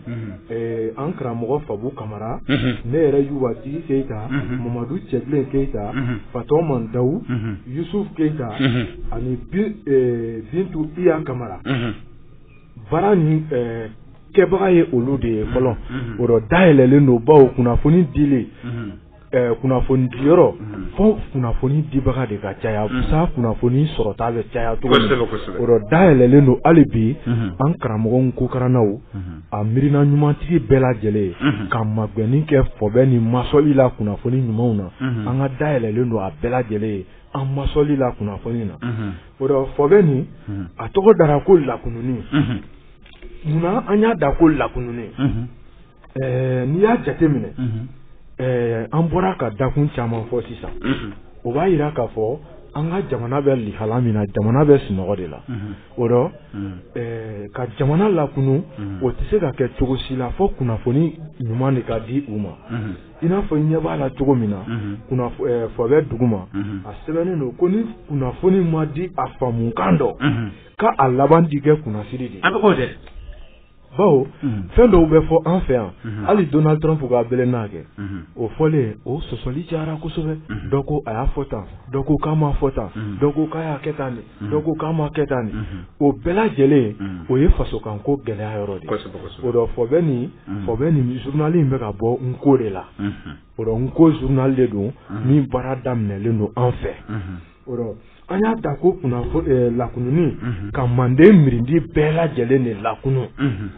an karamɔgɔ fabu kamara ne yɛrɛ yubati keyita mamadu cɛbilen keyita fatɔman dawu yusufu keyita ani bintu iya kamara baara nin kɛbaga ye olu de ye fɔlɔ o dɔ dayɛlɛnlen don bawo kunnafoni di kunnafoni diyɔrɔ fo kunnafoni dibaga de ka caya sa kunnafoni sɔrɔta bɛ caya o dɔ dayɛlɛnlen don hali bi an karamɔgɔ kokarannaw a miirina ɲumantigi bɛɛ lajɛlen ye ka magɛnni kɛ fɔbɛ nin masɔli la kunnafoni ɲumanw na an ka dayɛlɛnlen don a bɛɛ lajɛlen ye an masɔli la kunnafoni na o dɔ fɔbɛ nin a tɔgɔ dara ko lakununi munna an y'a da ko lakununi Ɛɛ n'i y'a jate minɛ ɛɛ an bɔra ka dakun caman fɔ sisan o b'a yira k'a fɔ an ka jamana bɛ lihala min na jamana bɛ sunɔgɔ de la o rɔ ka jamana lakunu o tɛ se ka kɛ cogo si la fo kunnafoni ɲuman de ka di u ma i n'a fɔ i ɲɛ b'a la cogo min na fɔbɛ duguma a sɛbɛnnen don ko ni kunnafoni ma di a faamu kan dɔ k'a laban di kɛ kunnasiri de bawo fɛn dɔw bɛ fɔ an fɛ yan hali donald trump ka bɛlɛ n'a kɛ o fɔlen o sɔsɔli cayara kosɛbɛ dɔ ko a y'a fɔ tan dɔ ko k'a ma fɔ tan dɔ ko k'a y'a kɛ tan nin dɔ ko k'a ma kɛ tan nin o bɛɛ lajɛlen o ye fasokan ko gɛlɛya yɔrɔ de o dɔ fɔbɛ nin fɔbɛ nin zurunali in bɛ ka bɔ nko de la o dɔ nko zurunali de don min baara daminɛlen don an fɛ an y'a da ko kunna eh, lakununi mhm. ka manden mirindi bɛɛ lajɛlen de lakunu mhm.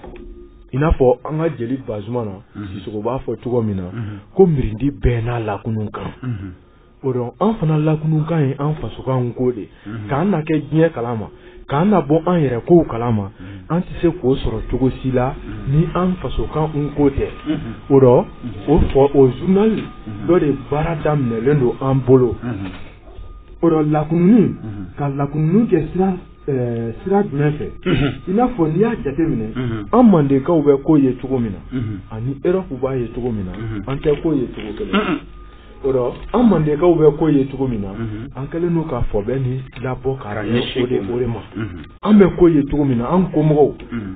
i n'a fɔ an ka jeli bazumana mhm. sisoko b'a fɔ cogo min na ko mirindi bɛɛ n'a lakunun kan o dɔ an fana lakunun kan ye an fasokan ko de k'an na kɛ diɲɛ kalama k'an na bɔ an yɛrɛ kow kalama an tɛ se k'o sɔrɔ cogo si la ni an fasokan ko tɛ o dɔ o fɔ o zurunali dɔ de baara daminɛlen don an bolo o dɔ lakununi ka lakununi kɛ sira sira jumɛn fɛ i n'a fɔ n'i y'a jate minɛ an mandenkaw bɛ ko ye cogo min na ani erɔpu b'a ye cogo min na an tɛ ko ye cogo kelen O rɔ an mandenkaw bɛ ko ye cogo min na an kɛlen don ka fɔbɛ nin labɔ ka ɲɛ o de o de ma an bɛ ko ye cogo min na an ko mɔgɔw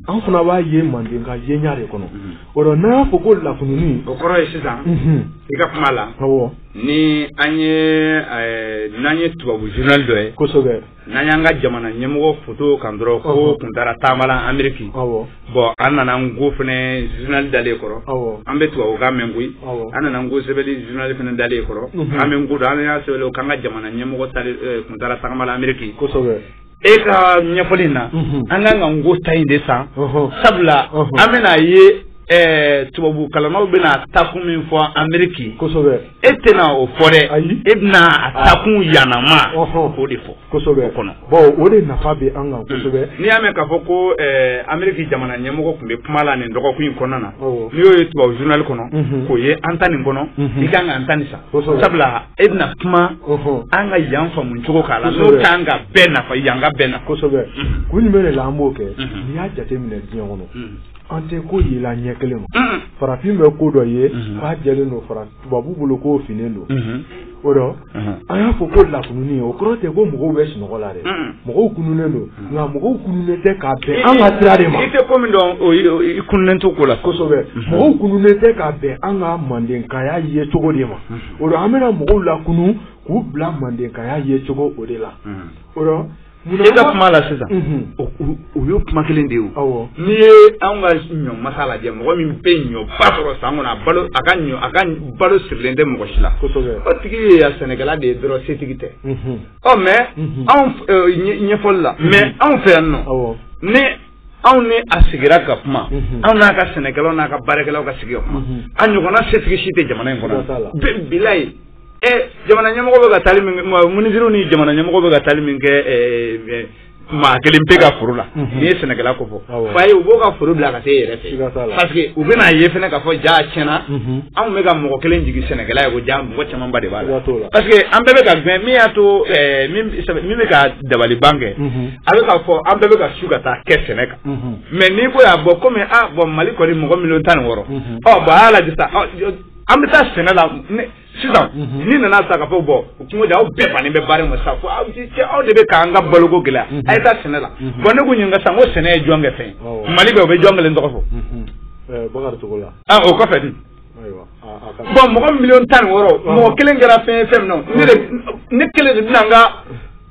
an fana b'a ye mandenka yenya de kɔnɔ o rɔ n'an y'a fɔ ko lakununi o kɔrɔ ye sisan i ka kuma la ɔwɔ ni an ye ɛɛ n'an ye tubabu journal dɔ ye kosɛbɛ n'an y'an ka jamana ɲɛmɔgɔ foto kan dɔrɔn ko kun taara tagama la ameriki bon an nana nko fɛnɛ journal dalen kɔrɔ an bɛ tubabukan mɛn koyi an nana nko sɛbɛnni journal fɛnɛ dalen kɔrɔ an bɛ nko dɔn an y'a sɛbɛn k'an ka jamana ɲɛmɔgɔ eh, kun taara tagama la ameriki e ka ɲɛfɔli in na an kan ka nko ta in de san sabula an bɛna ye eh, tubabu kalannaw bɛna taakun min fɔ ameriki e tɛna o fɔ dɛ ayi e bɛna a ah. taakun ɲanama o de fɔ kosɛbɛ bon o de nafa bɛ an kan kosɛbɛ hmm. n'i y'a mɛn k'a fɔ ko eh, ameriki jamana ɲɛmɔgɔ tun bɛ kuma la nin dɔgɔkun in kɔnɔna na n'i y'o ye tubabu journal kɔnɔ mhm. k'o ye an ta nin kɔnɔ mhm. i kan ka an ta nin san sabula e bɛna kuma an ka yan faamu cogo k'a la n'o kan ka bɛɛ nafa yanka bɛɛ nafa kosɛbɛ mhm. kun jumɛn de la an b'o kɛ n'i y'a jateminɛ diɲɛ kɔnɔ an tɛ ko ye la ɲɛ kelen ma farafin bɛ ko dɔ ye k'a jɛlen don fara tubabu bolo k'o finnen don o dɔ an y'a fɔ ko lakununni ye o kɔrɔ tɛ ko mɔgɔw bɛ sunɔgɔ la dɛ mɔgɔw kununnen don nka mɔgɔw kununnen tɛ k'a bɛn an ka sira de ma i tɛ ko min dɔn i kununnen t'o ko la kosɛbɛ mɔgɔw kununnen tɛ k'a bɛn an ka mandenkaya ye cogo de ma o dɔ an bɛna mɔgɔw lakunun k'u bila mandenkaya ye cogo o de la o Munna e ka kuma la sisan o ye kuma kelen de ye n'i ye an ka ɲɔ masa lajɛ mɔgɔ min bɛ ɲɔba sɔrɔ san kɔnɔ a balo a ka ɲɔ a ka balo sirilen tɛ mɔgɔ si la o tigi ye ya sɛnɛkɛla de ye dɔrɔn setigi tɛ ɔ mais anw ɲɛfɔli la mais anw fɛ yan nɔ ni anw ni a sigira ka kuma anw n'a ka sɛnɛkɛlaw n'a ka baarakɛlaw ka sigi ka kuma a ɲɔgɔnna setigi si tɛ jamana in kɔnɔ bilayi ɛ jamana ɲɛmɔgɔ bɛ ka taali min kɛ minisiriw ni jamana ɲɛmɔgɔ bɛ ka taali min kɛ maa kelen pe ka foro la n'i ye sɛnɛkɛla ko fɔ fa ye u b'o ka foro bila ka se yɛrɛ fɛ parce que u bɛn'a ye fɛnɛ k'a fɔ jaa tiɲɛ na anw bɛ ka mɔgɔ kelen jigi sɛnɛkɛla ye ko jaa mɔgɔ camanba de b'a la parce que an bɛɛ bɛ k'a gɛn min y'a to min bɛ ka dabaliban kɛ a bɛ k'a fɔ an bɛɛ bɛ ka su ka taa kɛ sɛnɛ kan mais n'i ko y'a bɔ kɔmi a bon mali kɔni mɔgɔ miliyɔn tan ni wɔɔrɔ ɔ bon a y'a lajɛ sisan an bɛ taa sɛnɛ la sisan n'i nana sa k'a fɔ bon kungo aw bɛɛ bannen bɛ baara ma sa fo aw cɛ aw de bɛ k'an ka baloko gɛlɛya a ye taa sɛnɛ la bon ne k'o ɲininka sisan ko sɛnɛ ye jɔn kɛ fɛn mali bɛ o bɛ jɔn kelen tɔgɔ fɔ bakari togola o kɔfɛ di bon mɔgɔ miliyɔn tan ni wɔɔrɔ mɔgɔ kelen kɛra fɛn fɛn min na ne kelen de bɛna n ka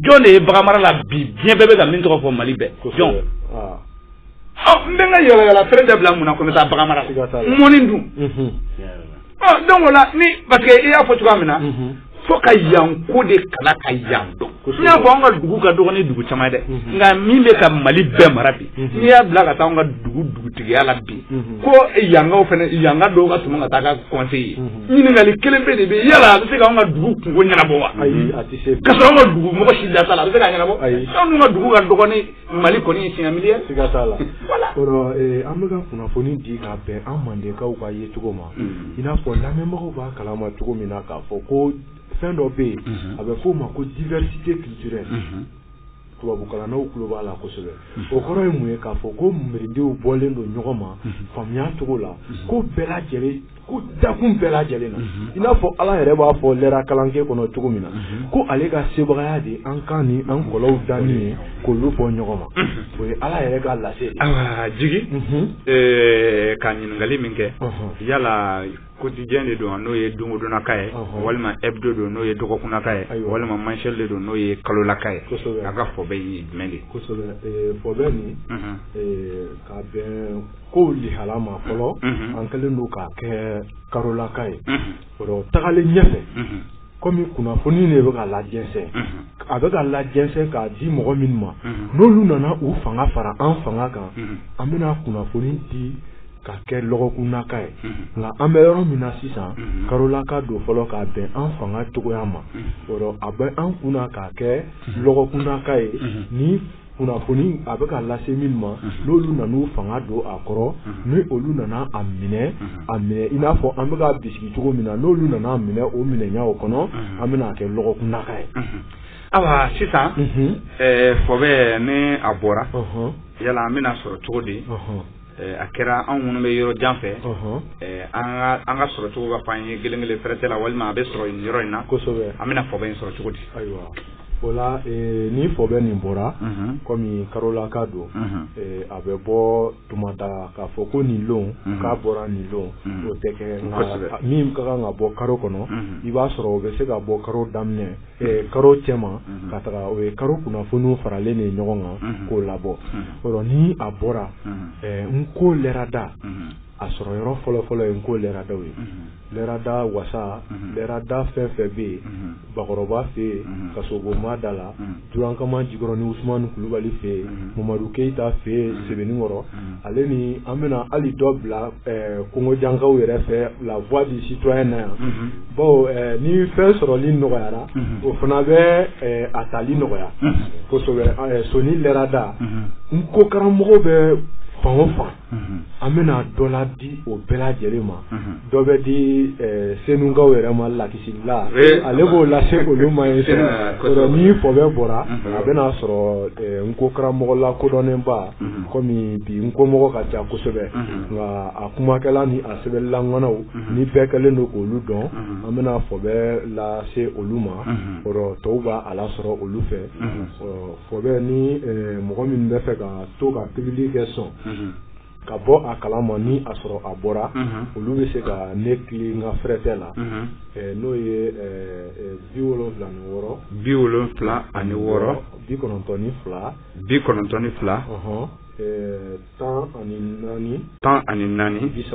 jɔn de ye bagan mara la bi diɲɛ bɛɛ bɛ ka min tɔgɔ fɔ mali bɛɛ jɔn ah. oh, n bɛ n ka yaalayaala feere dabila mun na ko n bɛ taa bagan mara la mɔni dun mhm. oh, donc o la ni parce que i y'a fɔ cogoya min na mhm. fo ka yan ko de kalan ka yan dɔn n y'a fɔ an ka dugu ka dɔgɔ ni dugu caman ye dɛ mhm. nka min bɛ ka mali bɛɛ mara bi n'i y'a bila ka taa an ka dugu dugutigiya la bi ko yankaw fana yanka dɔw ka tɛmɛ ka taa k'a conseiller ɲininkali kelenpe de bɛ yala a bɛ se k'an ka dugu kunko ɲɛnabɔ wa ayi a tɛ se ka sɔrɔ an ka dugu mɔgɔ si da t'a la a bɛ se k'a ɲɛnabɔ ayi anw dun ka dugu ka dɔgɔ ni mali kɔni ye siɲɛ miliyɛ siga t'a la o rɔ an bɛ ka kunnafoni di ka bɛn an mandenkaw ka yecogo ma i n'a fɔ lamɛnbagaw b'a kalama cogo min na k'a fɔ ko fɛn dɔ bɛ yen a bɛ f'o ma ko diversité culturelle tubabukalannaw tulo b'a la kosɛbɛ o kɔrɔ ye mun ye k'a fɔ ko mirindiw bɔlen don ɲɔgɔn ma faamuya cogo la ko bɛɛ lajɛlen ko dakun bɛɛ lajɛlen na i n'a fɔ ala yɛrɛ b'a fɔ lɛra kalanke kɔnɔ cogo min na ko ale ka sebagaya de an kan ni an kɔlɔw danni ye k'olu bɔ ɲɔgɔn ma o ye ala yɛrɛ ka lase jigi ka ɲininkali min kɛ yala quotidien de don n'o ye dongodonnaka ye walima hebdo don n'o ye dɔgɔkunnaka ye walima mensuel de don n'o ye kalolaka ye a ka fɔbɛ ye jumɛn de kosɛbɛ fɔbɛ nin ka bɛn kow lihala ma fɔlɔ an kɛlen don k'a kɛ kalolaka ye o tagalen ɲɛfɛ kɔmi kunnafoni de bɛ ka lajɛnsɛn a bɛ ka lajɛnsɛn k'a di mɔgɔ minnu ma n'olu nana u fanga fara an fanga kan an bɛna kunnafoni di ka kɛ lɔgɔkunnaka ye nka an bɛ yɔrɔ min na sisan karolaka don fɔlɔ k'a bɛn an fanga cogoya ma a bɛ an kunna k'a kɛ lɔgɔkunnaka ye ni kunnafoni a bɛ ka lase minnu ma n'olu nana u fanga don a kɔrɔ ni olu nana a minɛ a minɛ i n'a fɔ an bɛ k'a bisigi cogo min na n'olu nana a minɛ o minɛɲa o kɔnɔ an bɛna a kɛ lɔgɔkunnaka ye ayiwa sisan fɔbɛ ni a bɔra yala an bɛna sɔrɔ cogo di a kɛra anw minnu bɛ yɔrɔ jan fɛ an ka sɔrɔ cogo ka fɔ an ye kelen kelen fɛrɛtɛ la walima a bɛ sɔrɔ nin yɔrɔ in na an bɛna fɔbɛ in sɔrɔ cogo di ayiwa o la ni fɔbɛ nin bɔra kɔmi karolaka don a bɛ bɔ tuma da k'a fɔ ko nin lon k'a bɔra nin lon o tɛ kɛ min ka kan ka bɔ karo kɔnɔ i b'a sɔrɔ o bɛ se ka bɔ karo daminɛ karo cɛma ka taga o ye karo kunnafoniw faralen de ɲɔgɔn kan k'o labɔ o rɔ ni a bɔra n ko lɛrada a sɔrɔ yɔrɔ fɔlɔfɔlɔ ye n ko lɛradaw ye lɛrada wasa lɛrada fɛn o fɛn bɛ yen bakɔrɔba fɛ yen kasobonba da la jurankama jikɔrɔnin usumani kulubali fɛ yen mamadu keyita fɛ yen sebeninkɔrɔ ale ni an bɛna hali dɔ bila kongojankaw yɛrɛ fɛ la voix du citoyen na yan bawo ni fɛn sɔrɔli nɔgɔyara o fana bɛ a tali nɔgɔya kosɛbɛ soni lɛrada n ko karamɔgɔw bɛ fan o fan an bɛna dɔ la di o bɛɛ lajɛlen ma dɔ bɛ di eh, senukaw yɛrɛ ma lakisila eh, ale b'o lase olu ma yen senu eh, ni fɔbɛ bɔra mhm. a bɛna sɔrɔ n ko karamɔgɔ lakodɔnnenba mhm. komi bi n ko mɔgɔ ka ca kosɛbɛ mhm. nka a kumakɛla ni a sɛbɛnnila ŋanaw ni bɛɛ kɛlen don k'olu dɔn an bɛna fɔbɛ lase olu ma o rɔ tɔw b'a a lasɔrɔ olu fɛ fɔbɛ ni mɔgɔ min bɛ fɛ ka to ka pibili kɛ sɔn ka bɔ a kalama ni a sɔrɔ a bɔra olu bɛ se ka ne kili n ka fɛrɛtɛ la n'o ye bi wolonwula ni wɔɔrɔ bi wolonwula ani wɔɔrɔ bi kɔnɔntɔn ni fila bi kɔnɔntɔn ni fila tan ani naani tan ani naani bisa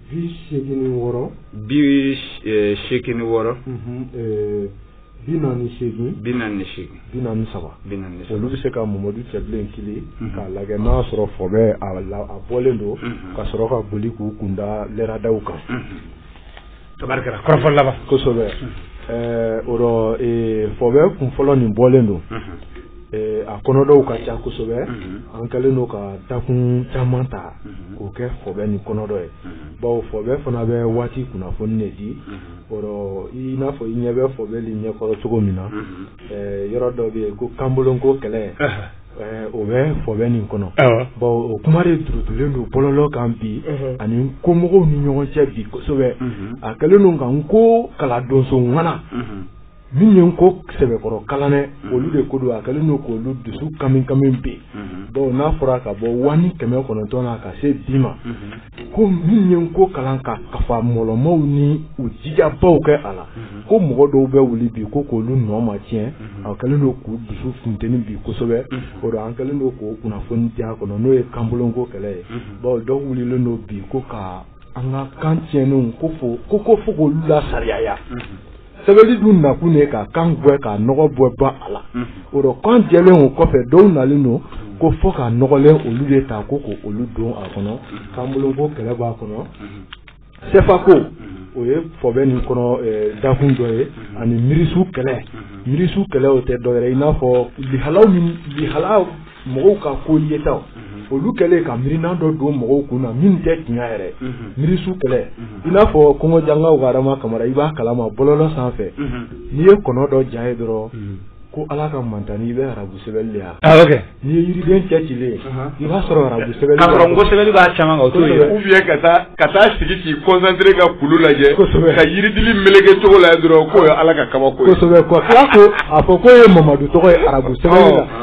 bi seegin ni wɔɔrɔ bi eh, seegin ni wɔɔrɔ mhm, eh, bi naani seegin bi naani ni seegin bi naani saba bi naani ni saba olu bɛ se ka mamadu cɛbilen kili mhm. k'a lajɛ n'a sɔrɔ fɔbɛ a bɔlen don mhm. ka sɔrɔ ka boli k'u kunda lɛradaw kan tabarikala kɔrɔfɔ laban kosɛbɛ eh, o rɔ fɔbɛ kun fɔlɔ nin bɔlen don a kɔnɔdɔw ka ca kosɛbɛ an kɛlen don ka dakun caman ta k'o kɛ fɔbɛ nin kɔnɔdɔ ye bawo fɔbɛ fana bɛ waati kunnafoni de di o rɔ i n'a fɔ i ɲɛ bɛ fɔbɛ nin ɲɛkɔrɔ cogo min na yɔrɔ dɔ bɛ yen ko kanboloko kɛlɛ o bɛ fɔbɛ nin kɔnɔ bawo o kuma de duurutulen don bɔlɔlɔ kan bi ani n ko mɔgɔw ni ɲɔgɔn cɛ bi kosɛbɛ a kɛlen don ka n ko kalan donso ŋana min ye n ko sɛbɛkɔrɔ kalan dɛ olu de ko don a kɛlen don k'olu dusu kamikami bi dɔnku n'a fɔra ka bɔ wa ni kɛmɛ kɔnɔntɔn na ka se bi ma ko min ye n ko kalan ka kafa mɔlɔmaw ni u jijabaw kɛ a la ko mɔgɔ dɔw bɛ wuli bi ko k' olu nɔma tiɲɛ a kɛlen don k'u dusu funteni bi kosɛbɛ o dɔ an kɛlen don k'o kunnafoni di a kɔnɔ n'o ye kanboloko kɛlɛ ye bawo dɔw wulilen don bi ko ka an ka kan tiɲɛnenw ko fo ko fo k' olu lasariyaya sɛbɛli dun nakun ye ka kan gwɛ ka nɔgɔ bɛɛ bɔ a la o rɔ kan jɛlen o kɔfɛ dɔw nalen don ko fo kan nɔgɔlen olu de ta ko ko olu don a kɔnɔ kanboloko kɛlɛ b'a kɔnɔ sɛfako o ye fɔbɛ nin kɔnɔ dakun dɔ ye ani miirisu kɛlɛ miirisu kɛlɛ o tɛ dɔwɛrɛ i n'a fɔ lihala lihala mɔgɔw ka ko yetaw olu kɛlen ka miirinan dɔ don mɔgɔw kun na min tɛ tiɲɛ yɛrɛ miirisu kɛlɛ i n'a fɔ kɔngɔjanga wɛrɛma kamara i b'a kalama bɔlɔlɔ sanfɛ n'i ye kɔnɔ dɔ ja ye dɔrɔn ko ala ka mantani i bɛ arabu sɛbɛn de yan ah, n'i ye yiriden cɛ ci ye i b'a sɔrɔ arabu sɛbɛn b'a caman ka taa ka taa sigi k'i kɔnsantere ka kulu lajɛ ka yiridili meleke cogo la dɔrɔn k'o ye ala ka kabako ye kosɛbɛ ko a fɔ k'o ye mamadu tɔgɔ ye arabu sɛbɛn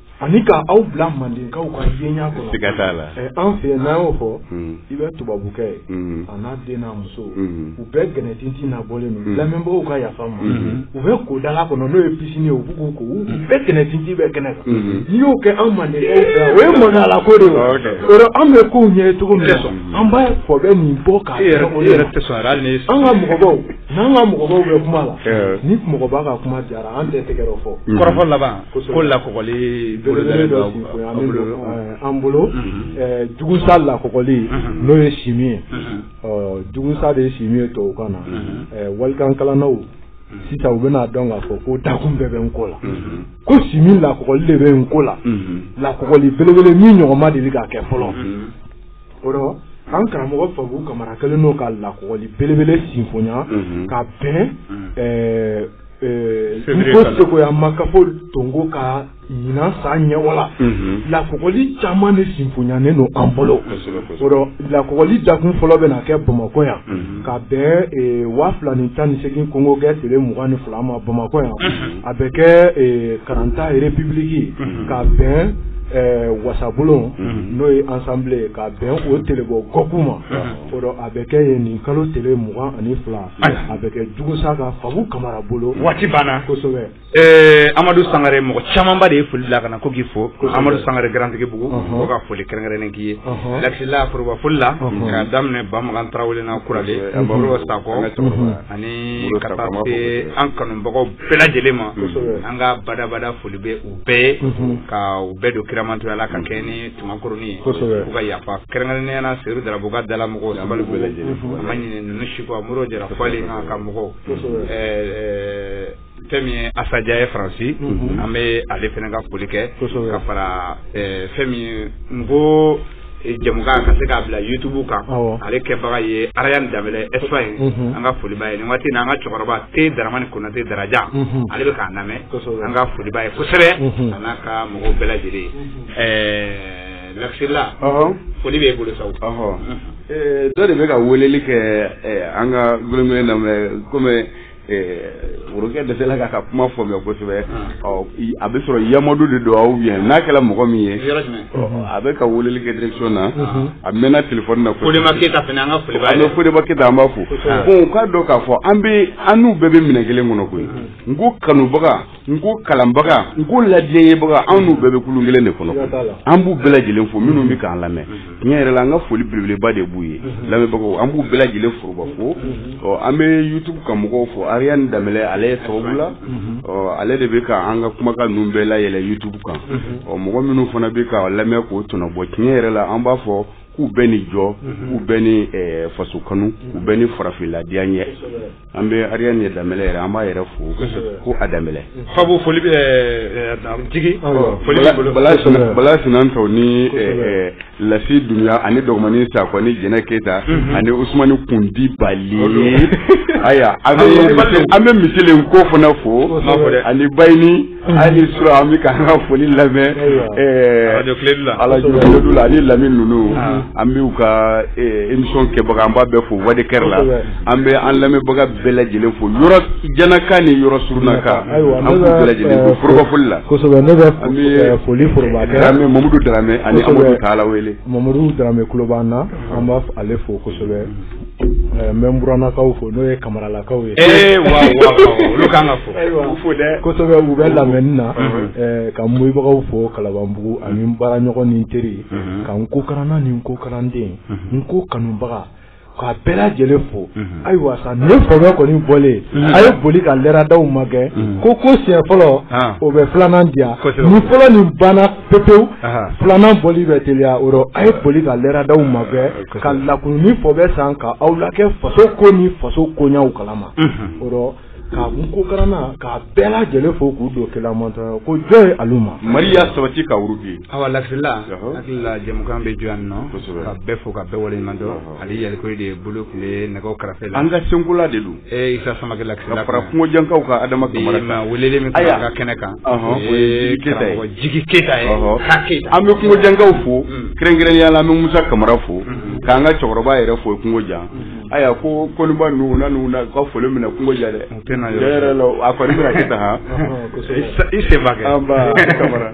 ani k' aw bila mandenkaw ka yeɲa kɔnɔ siga t'a la an fɛ n'a y'o fɔ i bɛ tubabukɛ ye a n'a den n'a muso u bɛɛ gɛnɛtintin nabɔlen don lamɛnbagaw ka yafa ma u bɛ ko dala kɔnɔ n'o ye piscine ye u b'u ko u bɛɛ gɛnɛtintin bɛ kɛnɛ kan n'i y'o kɛ anw mande o ye mɔnla ko de ye o rɔ an bɛ ko ɲɛ ye cogo min sɔn an b'a fɔ bɛ nin bɔ k' yɛrɛ yɛrɛ tɛ sɔn an ka mɔgɔbaw n'an ka mɔgɔbaw bɛ kuma la ni mɔgɔba ka kuma diyara an tɛ tɛgɛrɛ fɔ kɔrɔfɔ laban ko lakɔgɔli an bolo jugusa lakɔgɔli n'o ye chimie ye jugusa de ye chimie ye tubabukan na walikankalannaw sisan u bɛn'a dɔn k'a fɔ ko dakun bɛɛ bɛ n ko la ko chimie lakɔgɔli de bɛ n ko la lakɔgɔli belebele min ɲɔgɔn ma deli ka kɛ fɔlɔ o rɔ an karamɔgɔ fabu kamara kelen o ka lakɔgɔli belebele sinfoya ka bɛn ko segoya makafo tongo ka ɲinan san ɲɛwala lakɔgɔli caman de sinfonyanen don an bolo o rɔ lakɔgɔli dakun fɔlɔ bɛ na kɛ bamakɔ yan ka bɛn waa fila ni tan ni segin kongogɛ tile mugan ni fila ma bamakɔ yan a bɛ kɛ karanta république ka bɛn wasabulon n'o ye assemblée ka bɛn o telebɔ goku ma o rɔ a bɛ kɛ yen nin kalo tile mugan ani fila A bɛ kɛ jugusa ka fabu kamara bolo waati banna amadu sangare mɔgɔ camanba de ye foli bila ka na ko k'i fo amadu sangare garantigibugu ko ka foli kɛrɛnkɛrɛnnen k'i ye laxila foroba foli la k'a daminɛ bamagan tarawele na kuralen sakɔ ani ka taa se an kanubagaw bɛɛ lajɛlen ma an ka badabada foli bɛ u bɛɛ ye ka u bɛɛ don kiramantɔya la ka kɛ Cɛmankuruni kosɛbɛ u ka yafa kɛrɛnkɛrɛnnenya la Seydou Darabo ka dala mɔgɔw la an b'u bɛɛ lajɛlen fo a ma ɲinɛ ninnu si kɔ Modibo Jara Fɔlen n'a ka mɔgɔw kosɛbɛ ɛɛ fɛn min ye Assa Dia ye France unhun an bee ale fɛnɛ ka foli kɛ kosɛbɛ ka faraa ɛɛ fɛn min ye n koo e jɛmukan ka se k'a bila YouTube kan awɔ ale kɛbaga ye Arayane Danbɛlɛ Espagne unhun an ka foli b'a ye nin waati in na an ka cɛkɔrɔba T Daramani Konate Darajan unhun ale be k'an lamɛ kosɛbɛ an ka foli b'a ye kosɛbɛ unhun a n'a ka mɔgɔw bɛɛ lajɛlen unhun Ɛɛ Laxila foli b'e bolo sa dɔ de bɛ ka weleli kɛ an ka gelengelen na mais kɔmi worokɛ dela ka ka kuma fɔ mɛ kosɛbɛ a bɛ sɔrɔ yamadu de don ou bien n'a kɛra mɔgɔ min ye a bɛ ka weleli kɛ direction na a mɛnna téléphone na Fodeba keyita an b'a fo bon o k'a dɔn k'a fɔ an bɛ an n'u bɛɛ bɛ minɛ kelen kɔnɔ koyi n ko kanubaga n ko kalanbaga n ko ladiyaɲɛbaga anw n'u bɛɛ bɛ kulun kelen de kɔnɔ an b'u bɛɛ lajɛlen fo minnu bɛ k'an lamɛn tiɲɛ yɛrɛ la an ka foli belebeleba de b'u ye lamɛnbagaw an b'u bɛɛ lajɛlen foroba fo ɔ an bɛ youtube kan mɔgɔw fo ariane danbɛlɛ ale ye sababu la ɔ ale de bɛ ka an ka kumakan ninnu bɛɛ layɛlɛ youtube kan ɔ mɔgɔ minnu fana bɛ ka lamɛn k'o tɔnɔbɔ tiɲɛ yɛrɛ la an b'a fɔ k'u bɛɛ ni jɔ k'u bɛɛ ni faso kanu k'u bɛɛ ni farafinladenya ɲɛ an bɛ ariane danbɛlɛ yɛrɛ an b'a yɛrɛ fo ko a danbɛlɛ fabo foli jigi bala sinantaw ni lasi dunya ani dɔgɔmani sakɔ ni jɛnɛ keyita ani usumani kun di bali ayiwa an bɛ misilen ko fana fo ani bayini ani sura an bɛ k'an ka foli lamɛn arajo kledu la ani lamini ninnu ah. an b'u ka emisɔn kɛbaga an b'a bɛɛ fo wari kɛra la an bɛ an lamɛnbaga bɛɛ lajɛlen fo yɔrɔ jannaka ni yɔrɔ surunnaka an b'u bɛɛ lajɛlen fo foroba foli la kosɛbɛ ne bɛ foli foroba kɛ daramɛ mamadu daramɛ ani amadu tala wele mamadu daramɛ kulo b'an na an b'a ale fo kosɛbɛ n bɛ n burannakaw fo n'o ye kamaralakaw ye ee wa olu kan ka fɔ fo dɛ kosɛbɛ u bɛ lamɛnni na ka n moyibagaw fo kalabanbugu ani n baaraɲɔgɔn ni n teri ka n ko karanna ni n ko karanden n ko kanubaga k'a bɛɛ lajɛlen fo ayiwa sa ne fɔbɛ kɔni bɔlen a ye boli ka lɛradaw magɛn ko ko siɲɛ fɔlɔ o bɛ filanan diya ni fɔlɔ nin banna pepewu filanan bɔli bɛ teliya o rɔ a ye boli ka lɛradaw magɛn ka lakununi fɔbɛ san ka aw la kɛ faso ko ni faso koɲaw kalama o rɔ ka n ko karanna ka bɛɛ lajɛlen fo k'u don kela mantɔn ko jɔ ye alu ma mari y'a sabati ka wuruki awa lasila hakilila jɛmukan bɛ jɔ yan nɔ ka bɛɛ fo ka bɛɛ waleɲuman dɔn ali yalikuye de bolo tun ye nɛgɛ karafe la an ka senkola de don ee isa samakɛ lasila ka fara kungojankaw ka adama kamara kan ma weleli min kɛra ka kɛnɛ kan o ye karamɔgɔ jigi keyita ye ka keyita an bɛ kungojankaw fo mm. kɛrɛnkɛrɛnnenya la an bɛ musa kamara fo mm-hmm. k'an ka cɛkɔrɔba yɛrɛ fo kungojan mm-hmm. aya ko koniba ninnu na ninnu na ka foli minɛ kungojan dɛ yɛrɛ la a kɔni bɛna kɛ tan han i senba kɛ an ba kamara